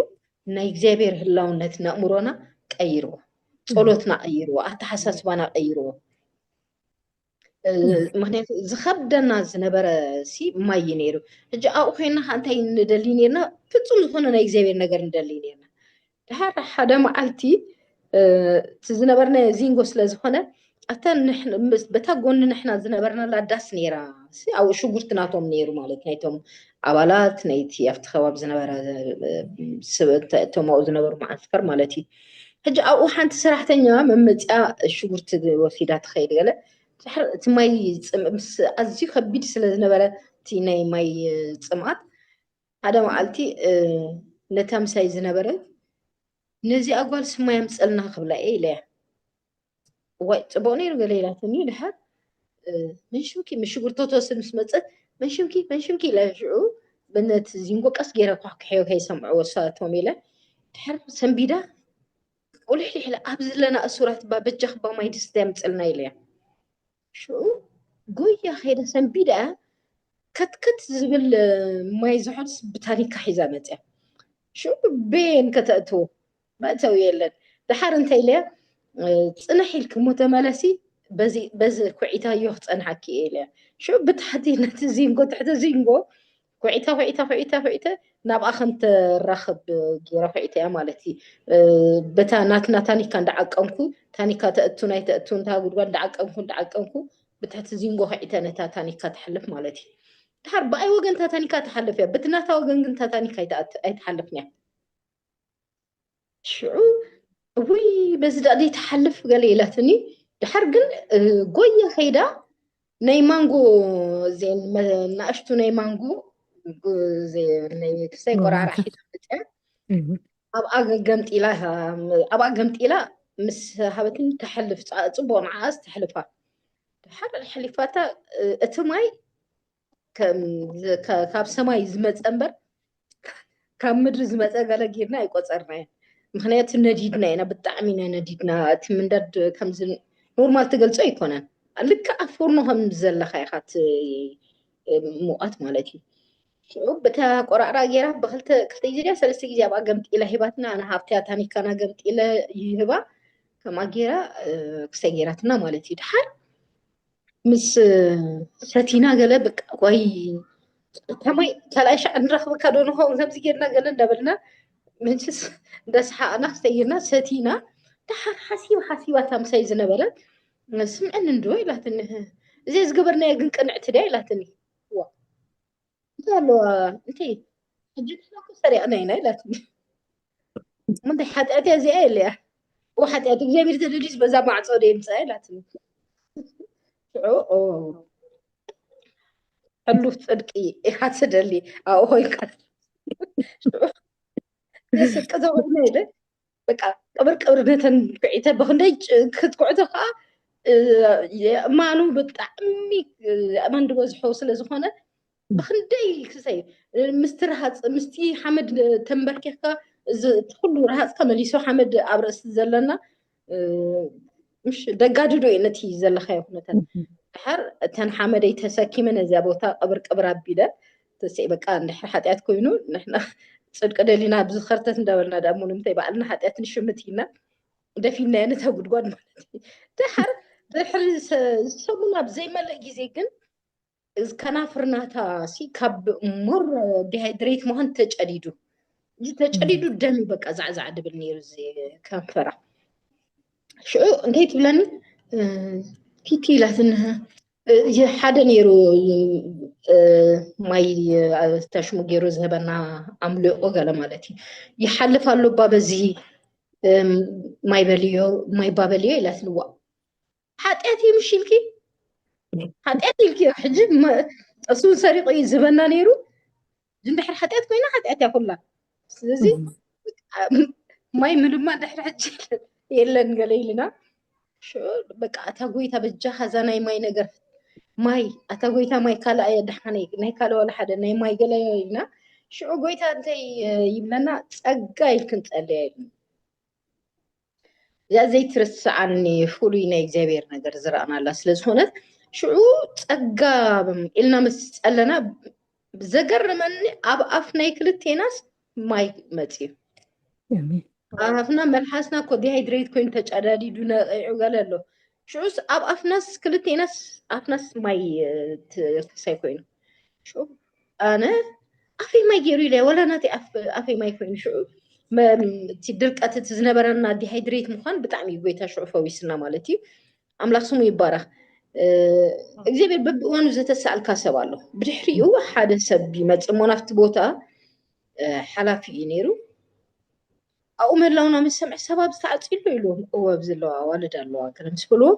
ናይ እግዚኣብሔር ህላውነት ንእምሮና ቀይርዎ ጸሎትና ቀይርዎ ኣተሓሳስባና ቀይርዎ ምክንያቱ ዝከብደና ዝነበረ ሲ ማይ እዩ ነይሩ ሕጂ ኣብኡ ኮይና ከዓ እንታይ ንደሊ ነርና ፍፁም ዝኮነ ናይ እግዚኣብሔር ነገር ንደሊ ነርና ድሓር ሓደ መዓልቲ እቲ ዝነበርና ዚንጎ ስለዝኮነ ኣታ በታ ጎኒ ንሕና ዝነበርናላ ዳስ ነይራ ኣብኡ ሽጉርቲ ናቶም ነይሩ ማለት ናይቶም ኣባላት ናይቲ ኣብቲ ከባቢ ዝነበረ እቶም ኣብኡ ዝነበሩ መዓስከር ማለት እዩ ሕጂ ኣብኡ ሓንቲ ሰራሕተኛ መመፅኣ ሽጉርቲ ወሲዳ ትኸይድ ገለ ድሕሪ እቲ ማይ ምስ ኣዝዩ ከቢድ ስለ ዝነበረ እቲ ናይ ማይ ፅምኣት ሓደ መዓልቲ ነታ ምሳይ ዝነበረ ነዚኣ ጓል ስማይ ኣምፀልና ክብላ እየ ኢለያ እዋይ ፅቡቅ ነይሩ ገለ ኢላትኒ ድሓር መንሽምኪ ምስ ሽጉርቲ ተወስድ ምስ መፀት መንሽምኪ መንሽምኪ ኢለ ሽዑ በነቲ ዚንጎ ቀስ ገይረ ኳሕኩሐዮ ከይሰምዕዎ ሳቶም ኢለ ድሓር ሰንቢዳ ቁልሕሊሕ ኢለ ኣብ ዘለና እሱራት እባ በጃኽ እባ ማይ ድስቲ ኣምፅልና ኢለያ ሽዑ ጎያ ከይዳ ሰንቢዳ ከትከት ዝብል ማይ ዝሑልስ ብታኒካ ሒዛ መፅያ ሽዑ ቤን ከተእትዎ መእተዊ የለን ድሓር እንታይ ኢለያ ፅንሕ ኢልኪ እሞ ተመለሲ በዚ ኩዒታዮ ክፀንሓኪ እየ ኢለያ ሽዑ ብታሕቲ ነቲ ዚንጎ ትሕቲ ዚንጎ ኩዒተ ኩዒተ ኩዒተ ኩዒተ ናብኣ ከም ትራኸብ ገይረ ኩዒተያ ማለት እዩ በታ ናትና ታኒካ እንዳዓቀንኩ ታኒካ ተእቱ ናይ ተእቱ እንታ ጉድጓድ እንዳዓቀንኩ እንዳዓቀንኩ ብትሕቲ ዚንጎ ኩዒተ ነታ ታኒካ ትሓልፍ ማለት እዩ ድሓር ብኣይ ወገን ታታኒካ ትሓልፍ እያ በቲ ናታ ወገን ግን ታታኒካ ኣይትሓልፍን እያ ሽዑ እውይ በዚ ዳኣ ዘይትሓልፍ ገለ ኢላትኒ ድሓር ግን ጎየ ከይዳ ናይ ማንጎ ናእሽቱ ናይ ማንጎ ክሳይ ቆራራ ሒዛ መፅያ ኣብኣ ገምጢላ ኣብኣ ገምጢላ ምስ ሃበትን ተሕልፍ ፅቡቅ ንዓኣስ ተሕልፋ ድሓር ሓሊፋታ እቲ ማይ ካብ ሰማይ ዝመፀ እምበር ካብ ምድሪ ዝመፀ ገለ ጌርና ኣይቆፀርናዮ ምክንያቱ ነዲድና ኢና ብጣዕሚ ኢና ነዲድና እቲ ምንዳድ ከምዚ ኖርማል ትገልፆ ኣይኮነን ልክዕ ፎርኖ ከም ዘለካ ኢካ ሙቀት ማለት እዩ በታ ቆራዕራ ጌራ ብክልተ ክልተ ግዜ ድያ ሰለስተ ግዜ ኣብኣ ገምጢላ ሂባትና ኣነ ሃብትያ ታኒካና ገምጢለ ይህባ ከምኣ ጌራ ክሰይ ጌራትና ማለት እዩ ድሓር ምስ ሰቲና ገለ በቃ ቆይ ከመይ ካልኣይ ሻዕ ንረኽበካ ዶ ንኸውን ከምዚ ጌርና ገለ እንዳበልና ምንችስ እንዳሰሓቕና ክሰይርና ሰቲና ድሓር ሓሲብ ሓሲባ እታ ምሳይ ዝነበረ ስምዕኒ እንዶ ኢላትኒ እዚኣ ዝገበርናዮ ግን ቅንዕቲ ድያ ኢላትኒ እንታይ ኣለዎ እቲ ሕጂ ንሕና እኮ ሰሪቕና ኢና ኢላትኒ ምንታይ ሓጢኣት እያ እዚኣ ኢለያ እዎ ሓጢኣት እግዚኣብሔር ተደልዩስ በዛ ማዕፆ ዶ የምፅኣ ኢላትኒ ሽዑ ሕሉፍ ፅድቂ ኢኻ ትደሊ ኣብኡ ኮይንካ ሽዑ ስቂ ተኮይነ ኢለ በቃ ቅብር ቅብር ነተን ኩዒተ ብክንደይ ጭ- ክትኩዕቶ ከዓ እ፣ የእማኑ ብጣዕሚ እ፣ የእማን ዝበዝሖ ስለ ዝኾነ ብክንደይ ክሰይ እ፣ ምስቲ ረሃፅ ምስቲ ሓመድ እ፣ ተንበርኪኽካ እዚ እቲ ኩሉ ረሃፅ ተመሊሱ ሓመድ ኣብ ርእሲ ዘለና እ፣ ምሽ ደጋድዶ እዩ ነቲ ዘለኻዮ ኩነታት ድሓር እተን ሓመደይ ተሰኪመ ነዚያ ቦታ ቅብር ቅብር ኣቢለ ተሴ በቃ እንድሕር ሓጢኣት ኮይኑ ንሕና ፅድቂ ደሊና ብዝኸርተት እንዳበልና ዳሞ ንምንታይ ባዕልና ሓጢኣት ንሽምት ኢልና ደፊናዮ ነታ ጉድጓድ ማለት እዩ ድሓር ድሕሪ ሰሙን ኣብ ዘይመልእ ግዜ ግን ከናፍርናታ ሲ ካብ ሞር ዲሃይድሬት ምዃን ተጨዲዱ እዚ ተጨዲዱ ደም በቃ ዛዕዛዕ ድብል ነይሩ እዚ ከንፈራ ሽዑ እንታይ ትብለኒ ቲቲ ኢላትኒ ሓደ ነይሩ ማይ ተሽሙ ገይሩ ዝህበና ኣምልኦ ገለ ማለት እዩ ይሓልፍ ኣሎ እባ በዚ ማይ በልዮ ማይ እባ በልዮ ኢላ ትልዋ ሓጢኣት እዩ ምሽ ኢልኪ ሓጢኣት ኢልኪዮ ሕጂ እሱን ሰሪቑ እዩ ዝበና ነይሩ እንድሕር ሓጢኣት ኮይና ሓጢኣት እያ ኩላ ስለዚ ማይ ምልማ ድሕሪ ሕጂ የለን ገለ ኢልና በቃ ኣታ ጎይታ በጃኻ እዛ ናይ ማይ ነገር ማይ ኣታ ጎይታ ማይ ካልኣ እየ ድሓነ ናይ ካልእ ዋላ ሓደ ናይ ማይ ገለ ኢልና ሽዑ ጎይታ እንታይ ይብለና ፀጋ ኢልክን ፀለያ ኢሉ እዛ ዘይትርስዓኒ ፍሉይ ናይ እግዚኣብሔር ነገር ዝረኣናላ ስለ ዝኾነት ሽዑ ጸጋ ኢልና ምስ ጸለና ዘገረመኒ ኣብ ኣፍ ናይ ክልቴናስ ማይ መፅዩ ኣፍና መልሓስና እኮ ዲሃይድሬት ኮይኑ ተጨዳዲዱ ነቂዑ ገለ ኣሎ ሽዑስ ኣብ ኣፍናስ ክልቴናስ ኣፍናስ ማይ ትፈሳይ ኮይኑ ሽዑ ኣነ ኣፈይ ማይ ገይሩ ኢለ ወላ ናተይ ኣፈይ ማይ ኮይኑ ሽዑ እቲ ድርቀት እቲ ዝነበረና ዲሃይድሬት ምኳን ብጣዕሚ እዩ ጎይታ ሽዑ ፈዊስና ማለት እዩ ኣምላክ ስሙ ይባረክ እግዚኣብሔር በብእዋኑ ዘተሰኣልካ ሰብ ኣሎ ብድሕሪኡ ሓደ ሰብ ይመፅእ እሞ ናብቲ ቦታ ሓላፊ እዩ ነይሩ ኣብኡ ምህላውና ምስ ሰምዐ ሰብ ኣብዚ ተዓፅዩ ኣሎ ኢሉዎም። እወ ኣብዚ ኣለዋ ኣዋልድ ኣለዋ ገለ ምስ በልዎም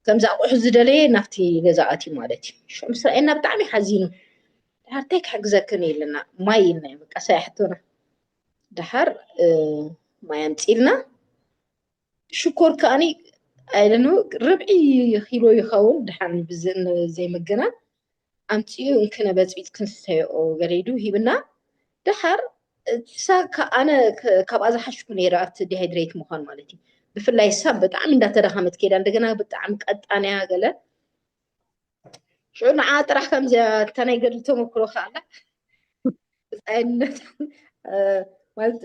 ከምዚ ኣቑሑ ዝደለየ ናብቲ ገዛ ኣትዩ ማለት እዩ። ሽዑ ምስ ረኣየና ብጣዕሚ ሓዚኑ ድሓር እንታይ ክሕግዘክን ኢልና ማይ ኢልናዮ በቃ ሳይ ሕቶና ድሓር ማይ ኣምፂልና ሽኮር ከዓኒ ኣይደነው ርብዒ ኪሎ ይኸውን ድሓን ዘይምግናን ኣምጺኡ እንክነ በጽቢጽ ክንሰተዮኦ ገለይዱ ሂብና ደሓር እሳ ኣነ ካብኣ ዝሓሽኩ ነይረ ኣብቲ ዲሃይድሬት ምዃን ማለት እዩ ብፍላይ እሳ ብጣዕሚ እንዳተዳኸመት ከይዳ እንደገና ብጣዕሚ ቀጣንያ ገለ ሽዑ ንዓ ጥራሕ ከምዚያ እታ ናይ ገድሊ ተመክሮ ከኣላ ብፃይነት ማለት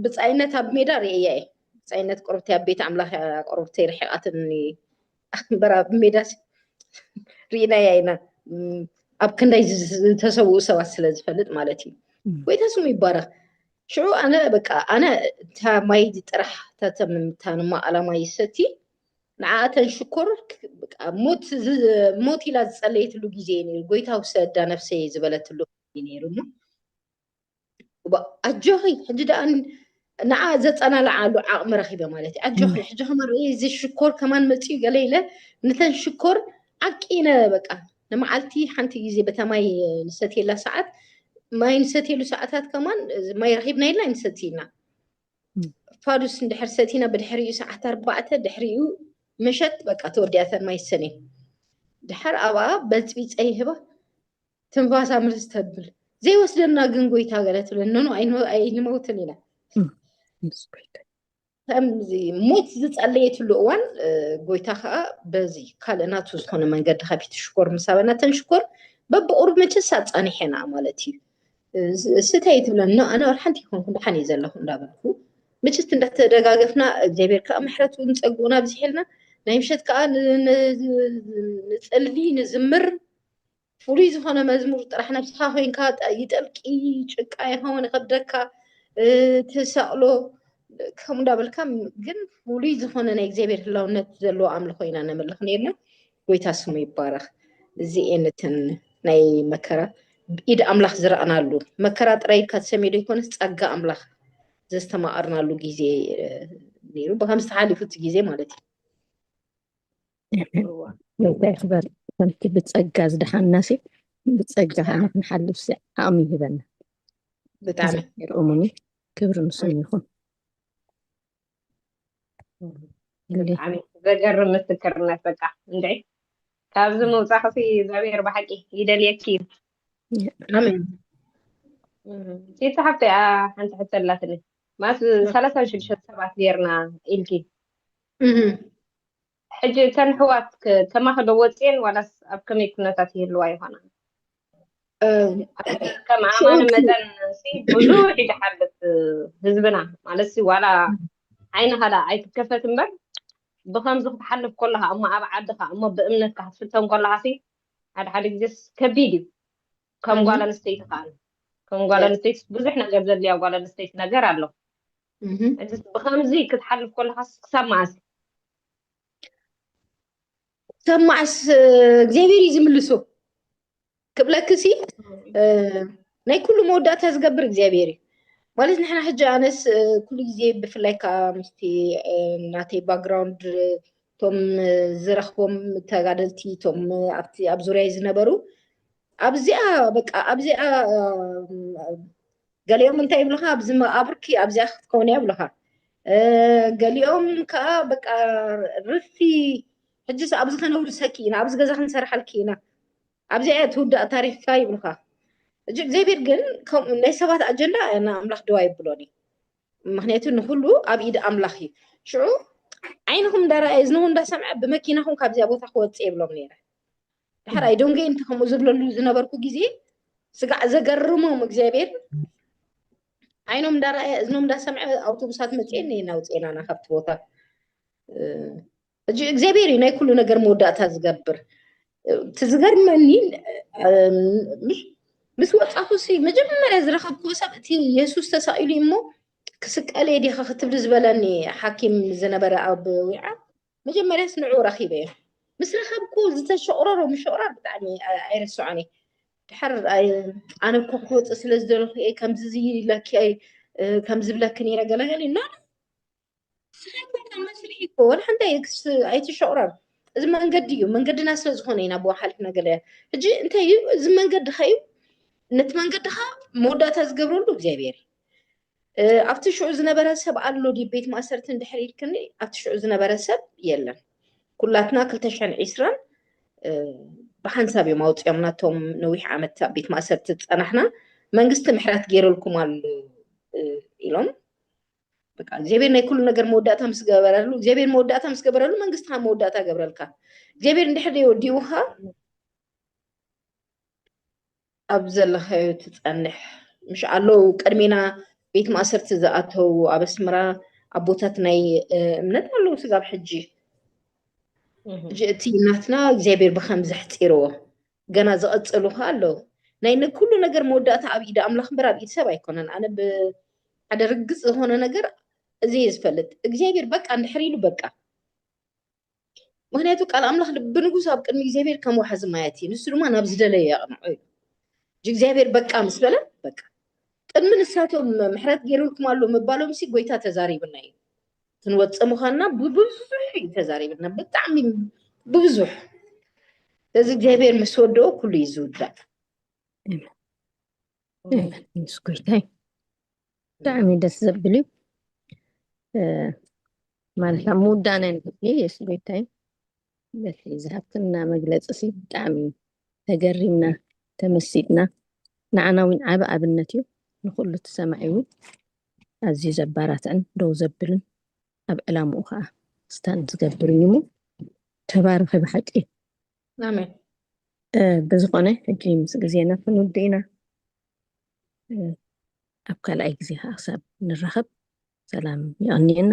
ብፃይነት ኣብ ሜዳ ርእያ እየ ብፃይነት ቆርብቲ ኣብ ቤት ኣምላኽ እያ ቆርብተይ ርሒቓትኒ ኣንበር ኣብ ሜዳሲ ርኢናያ ኢና ኣብ ክንደይ ዝተሰውኡ ሰባት ስለ ዝፈልጥ ማለት እዩ ጎይታ ስሙ ይባረኽ ሽዑ ኣነ በቃ ኣነ እታ ማይ ጥራሕ ተተምታንማ ኣላማ ይሰቲ ንዓኣተን ሽኮር ሞት ኢላ ዝፀለየትሉ ግዜ እዩ ነይሩ ጎይታ ውሰዳ ነፍሰይ ዝበለትሉ ነይሩ እሞ ኣጆኺ ሕጂ ደኣ ንዓ ዘፀናልዓሉ ዓቕሚ ረኺበ ማለት እዩ ኣጆኺ ሕጂ ከማን እዚ ሽኮር ከማን መፅኡ ገለ ኢለ ነተን ሽኮር ዓቂነ በቃ ንመዓልቲ ሓንቲ ግዜ በታ ማይ ንሰትየላ ሰዓት ማይ ንሰትየሉ ሰዓታት ከማን ማይ ረኺብና ኢልና ንሰቲ ኢና ፋዱስ እንድሕር ሰቲና ብድሕሪኡ ሰዓት ኣርባዕተ ድሕሪኡ መሸት በቃ ተወዲያተን ማይ ሰኔ ድሓር ኣብኣ በፅቢፀ ይህባ ትንፋሳ ምልስ ተብል ዘይወስደና ግን ጎይታ ገለ ትብል ኖኖ ኣይንመውትን ኢና ከምዚ ሞት ዝፀለየትሉ እዋን ጎይታ ከዓ በዚ ካልእ ናቱ ዝኾነ መንገዲ ከፊቱ ሽኮር ምስ ኣበና ተን ሽኮር በብቑሩብ መቸስ ኣፃኒሐና ማለት እዩ ስተይ ትብለን ኣነ ሓንቲ ይኮንኩ ድሓን እዩ ዘለኹ እንዳበልኩ መቸስ እንዳተደጋገፍና እግዚኣብሔር ከዓ ምሕረቱ ንፀግኡን ኣብዚሕልና ናይ ምሸት ከዓ ንፅሊ ንዝምር ፍሉይ ዝኾነ መዝሙር ጥራሕ ነብስኻ ኮይንካ ይጠልቂ ጭቃ ይኸውን ይኸብደካ ትሰቕሎ ከምኡ እንዳበልካ ግን ፍሉይ ዝኾነ ናይ እግዚኣብሔር ህላውነት ዘለዎ ኣምልኾ ኢና ነምልኽ ነርና ጎይታ ስሙ ይባረኽ እዚኤን እተን ናይ መከራ ኢድ ኣምላኽ ዝረኣናሉ መከራ ጥራይ ኢልካ ትሰሚዶ ይኮነስ ጸጋ ኣምላኽ ዘስተማቐርናሉ ግዜ ነይሩ ብከምዚ ተሓሊፉ እቲ ግዜ ማለት እዩ ጎይታ ይክበር ከምቲ ብፀጋ ዝደሓና ሲ ብፀጋ ከዓና ክንሓልፍ ሲ ዓቕሚ ይህበና ብጣዕሚ ይርኡሙኒ ክብሪ ንሱን ይኹን ብጣዕሚ ዘገርም ምስክርነት በቃ እንደ ካብዚ ምውፃኽሲ እግዚኣብሔር ብሓቂ ይደልየኪ እዩ ኣሜን ሴት ሓብቲ ሓንቲ ሕቶ ኣላትኒ ማለት ሰላሳ ሽዱሽተ ሰባት ጌርና ኢልኪ ሕጂ እተን ኣሕዋት ከማኺ ዶ ወጺኤን ዋላስ ኣብ ከመይ ኩነታት ይህልዋ ይኾና? ከም ኣማኒ መጠን ሲ ብዙሕ እዩ ዝሓልፍ ህዝብና ማለት ሲ ዋላ ዓይኒ ካልኣ ኣይትከፈት እምበር ብከምዚ ክትሓልፍ ከለካ እሞ ኣብ ዓድካ እሞ ብእምነትካ ክትፍተን ከለካ ሲ ሓደ ሓደ ግዜስ ከቢድ እዩ ከም ጓል ኣንስተይቲ ከኣ ከም ጓል ኣንስተይቲ ብዙሕ ነገር ዘድልያ ጓል ኣንስተይቲ ነገር ኣሎ ብከምዚ ክትሓልፍ ከለካስ ክሳብ መኣስ ክሳብ መኣስ እግዚኣብሔር እዩ ዝምልሶ ክብለክ ሲ ናይ ኩሉ መወዳእታ ዝገብር እግዚኣብሔር እዩ ማለት ንሕና ሕጂ ኣነስ ኩሉ ግዜ ብፍላይ ከዓ ምስቲ ናተይ ባክግራውንድ እቶም ዝረኽቦም ተጋደልቲ እቶም ኣብቲ ኣብ ዙርያይ ዝነበሩ ኣብዚኣ በቃ ኣብዚኣ ገሊኦም እንታይ ይብሉካ ኣብዚ መቃብርኪ ኣብዚኣ ክትከውን እያ ይብሉካ ገሊኦም ከዓ በቃ ርፊ ሕጅስ ኣብዚ ከነውርሰኪ ኢና ኣብዚ ገዛ ክንሰርሓልኪ ኢና ኣብዚኣ እያ ትውዳእ ታሪክካ ይብሉካ እዚ እግዚኣብሔር ግን ከምኡ ናይ ሰባት ኣጀንዳ ንኣምላኽ ደዋ ይብሎን እዩ ምክንያቱ ንኩሉ ኣብ ኢድ ኣምላኽ እዩ ሽዑ ዓይንኹም እንዳረኣየ እዝንኹም እንዳሰምዐ ብመኪናኹም ካብዚኣ ቦታ ክወፅእ የብሎም ነይረ ድሓር ኣይዶንገ እንቲ ከምኡ ዝብለሉ ዝነበርኩ ግዜ ስጋዕ ዘገርሞም እግዚኣብሔር ዓይኖም እንዳረኣየ እዝኖም እንዳሰምዐ ኣውቶቡሳት መፅኤን ናውፅኤናና ካብቲ ቦታ ሕጂ እግዚኣብሔር እዩ ናይ ኩሉ ነገር መወዳእታ ዝገብር እቲ ዝገርመኒ ምስ ወፃኹ ሲ መጀመርያ ዝረኸብክዎ ሰብ እቲ የሱስ ተሳኢሉ እሞ ክስቀለ ዲኻ ክትብል ዝበለኒ ሓኪም ዝነበረ ኣብ ዊዓ መጀመርያ ስንዑ ረኺበ እየ ምስ ረኸብኩ ዝተሸቕረሮ ምሸቕራር ብጣዕሚ ኣይረስዖን እየ ድሓር ኣነ እኮ ክወፅእ ስለ ዝደለኹ እየ ከምዚ ዝይለኪ ከምዚ ብለኪ ነይረ ገለገለ ኖ ስራሕና መስርሒ እኮ ወላ ሓንቲ ኣይትሸቑረር እዚ መንገዲ እዩ መንገድና ስለ ዝኾነ ኢና ብኡ ሓሊፍና ገለ ሕጂ እንታይ እዩ እዚ መንገድኻ እዩ ነቲ መንገድኻ መወዳእታ ዝገብረሉ እግዚኣብሔር እዩ ኣብቲ ሽዑ ዝነበረ ሰብ ኣሎ ድዩ ቤት ማእሰርቲ እንድሕር ኢልክኒ ኣብቲ ሽዑ ዝነበረ ሰብ የለን ኩላትና ክልተ ሽሕን ዒስራን ብሓንሳብ እዮም ኣውፅኦምና እቶም ነዊሕ ዓመት ኣብ ቤት ማእሰርቲ ዝፀናሕና መንግስቲ ምሕረት ገይረልኩም ኣሎ ኢሎም በቃ እግዚኣብሔር ናይ ኩሉ ነገር መወዳእታ ምስ ገበረሉ እግዚኣብሔር መወዳእታ ምስ ገበረሉ መንግስቲ ካብ መወዳእታ ገብረልካ እግዚኣብሔር እንድሕር ወዲኡካ ኣብ ዘለካዮ ትፀንሕ ምሽ ኣለዉ ቅድሜና ቤት ማእሰርቲ ዝኣተው ኣብ ኣስመራ ኣቦታት ናይ እምነት ኣለዉ ስጋብ ሕጂ እቲ ናትና እግዚኣብሔር ብከም ዘሕፂርዎ ገና ዝቐጸሉ ከኣ ኣለዉ። ናይ ንኩሉ ነገር መወዳእታ ኣብ ኢድ ኣምላኽ እምበር ኣብ ኢድ ሰብ ኣይኮነን። ኣነ ብሓደ ርግጽ ዝኾነ ነገር እዚ እየ ዝፈልጥ፣ እግዚኣብሔር በቃ እንድሕር ኢሉ በቃ። ምክንያቱ ቃል ኣምላኽ ልቢ ንጉስ ኣብ ቅድሚ እግዚኣብሔር ከም ወሓዚ ማያት እዩ፣ ንሱ ድማ ናብ ዝደለዮ የቕንዖ ኢሉ። እጅ እግዚኣብሔር በቃ ምስ በለ በቃ። ቅድሚ ንሳቶም ምሕረት ገይሩልኩም ኣሎ ምባሎምሲ ጎይታ ተዛሪብና እዩ። ክንወፅእ ምዃንና ብብዙሕ እዩ ተዛሪብና ብጣዕሚ ብብዙሕ እዚ እግዚኣብሔር ምስ ወደኦ ኩሉ እዩ ዝውዳእ ምስ ጎይታይ ብጣዕሚ ደስ ዘብል እዩ ማለት ኣብ ምውዳእና ንክፍሊ የሱ ጎይታይ በቲ ዝሃብትና መግለፂ ሲ ብጣዕሚ ተገሪምና ተመሲጥና ንዓና እውን ዓብ ኣብነት እዩ ንኩሉ ትሰማዒ እውን ኣዝዩ ዘባራትዕን ደው ዘብልን ኣብ ዕላምኡ ከኣ ስታንድ ዝገብር እዩ እሞ ተባረኺ ብሓቂ ኣሜን ብዝኾነ ሕጂ ምስ ግዜና ክንውድእ ኢና ኣብ ካልኣይ ግዜ ከዓ ክሳብ ንራኸብ ሰላም ይቐንየና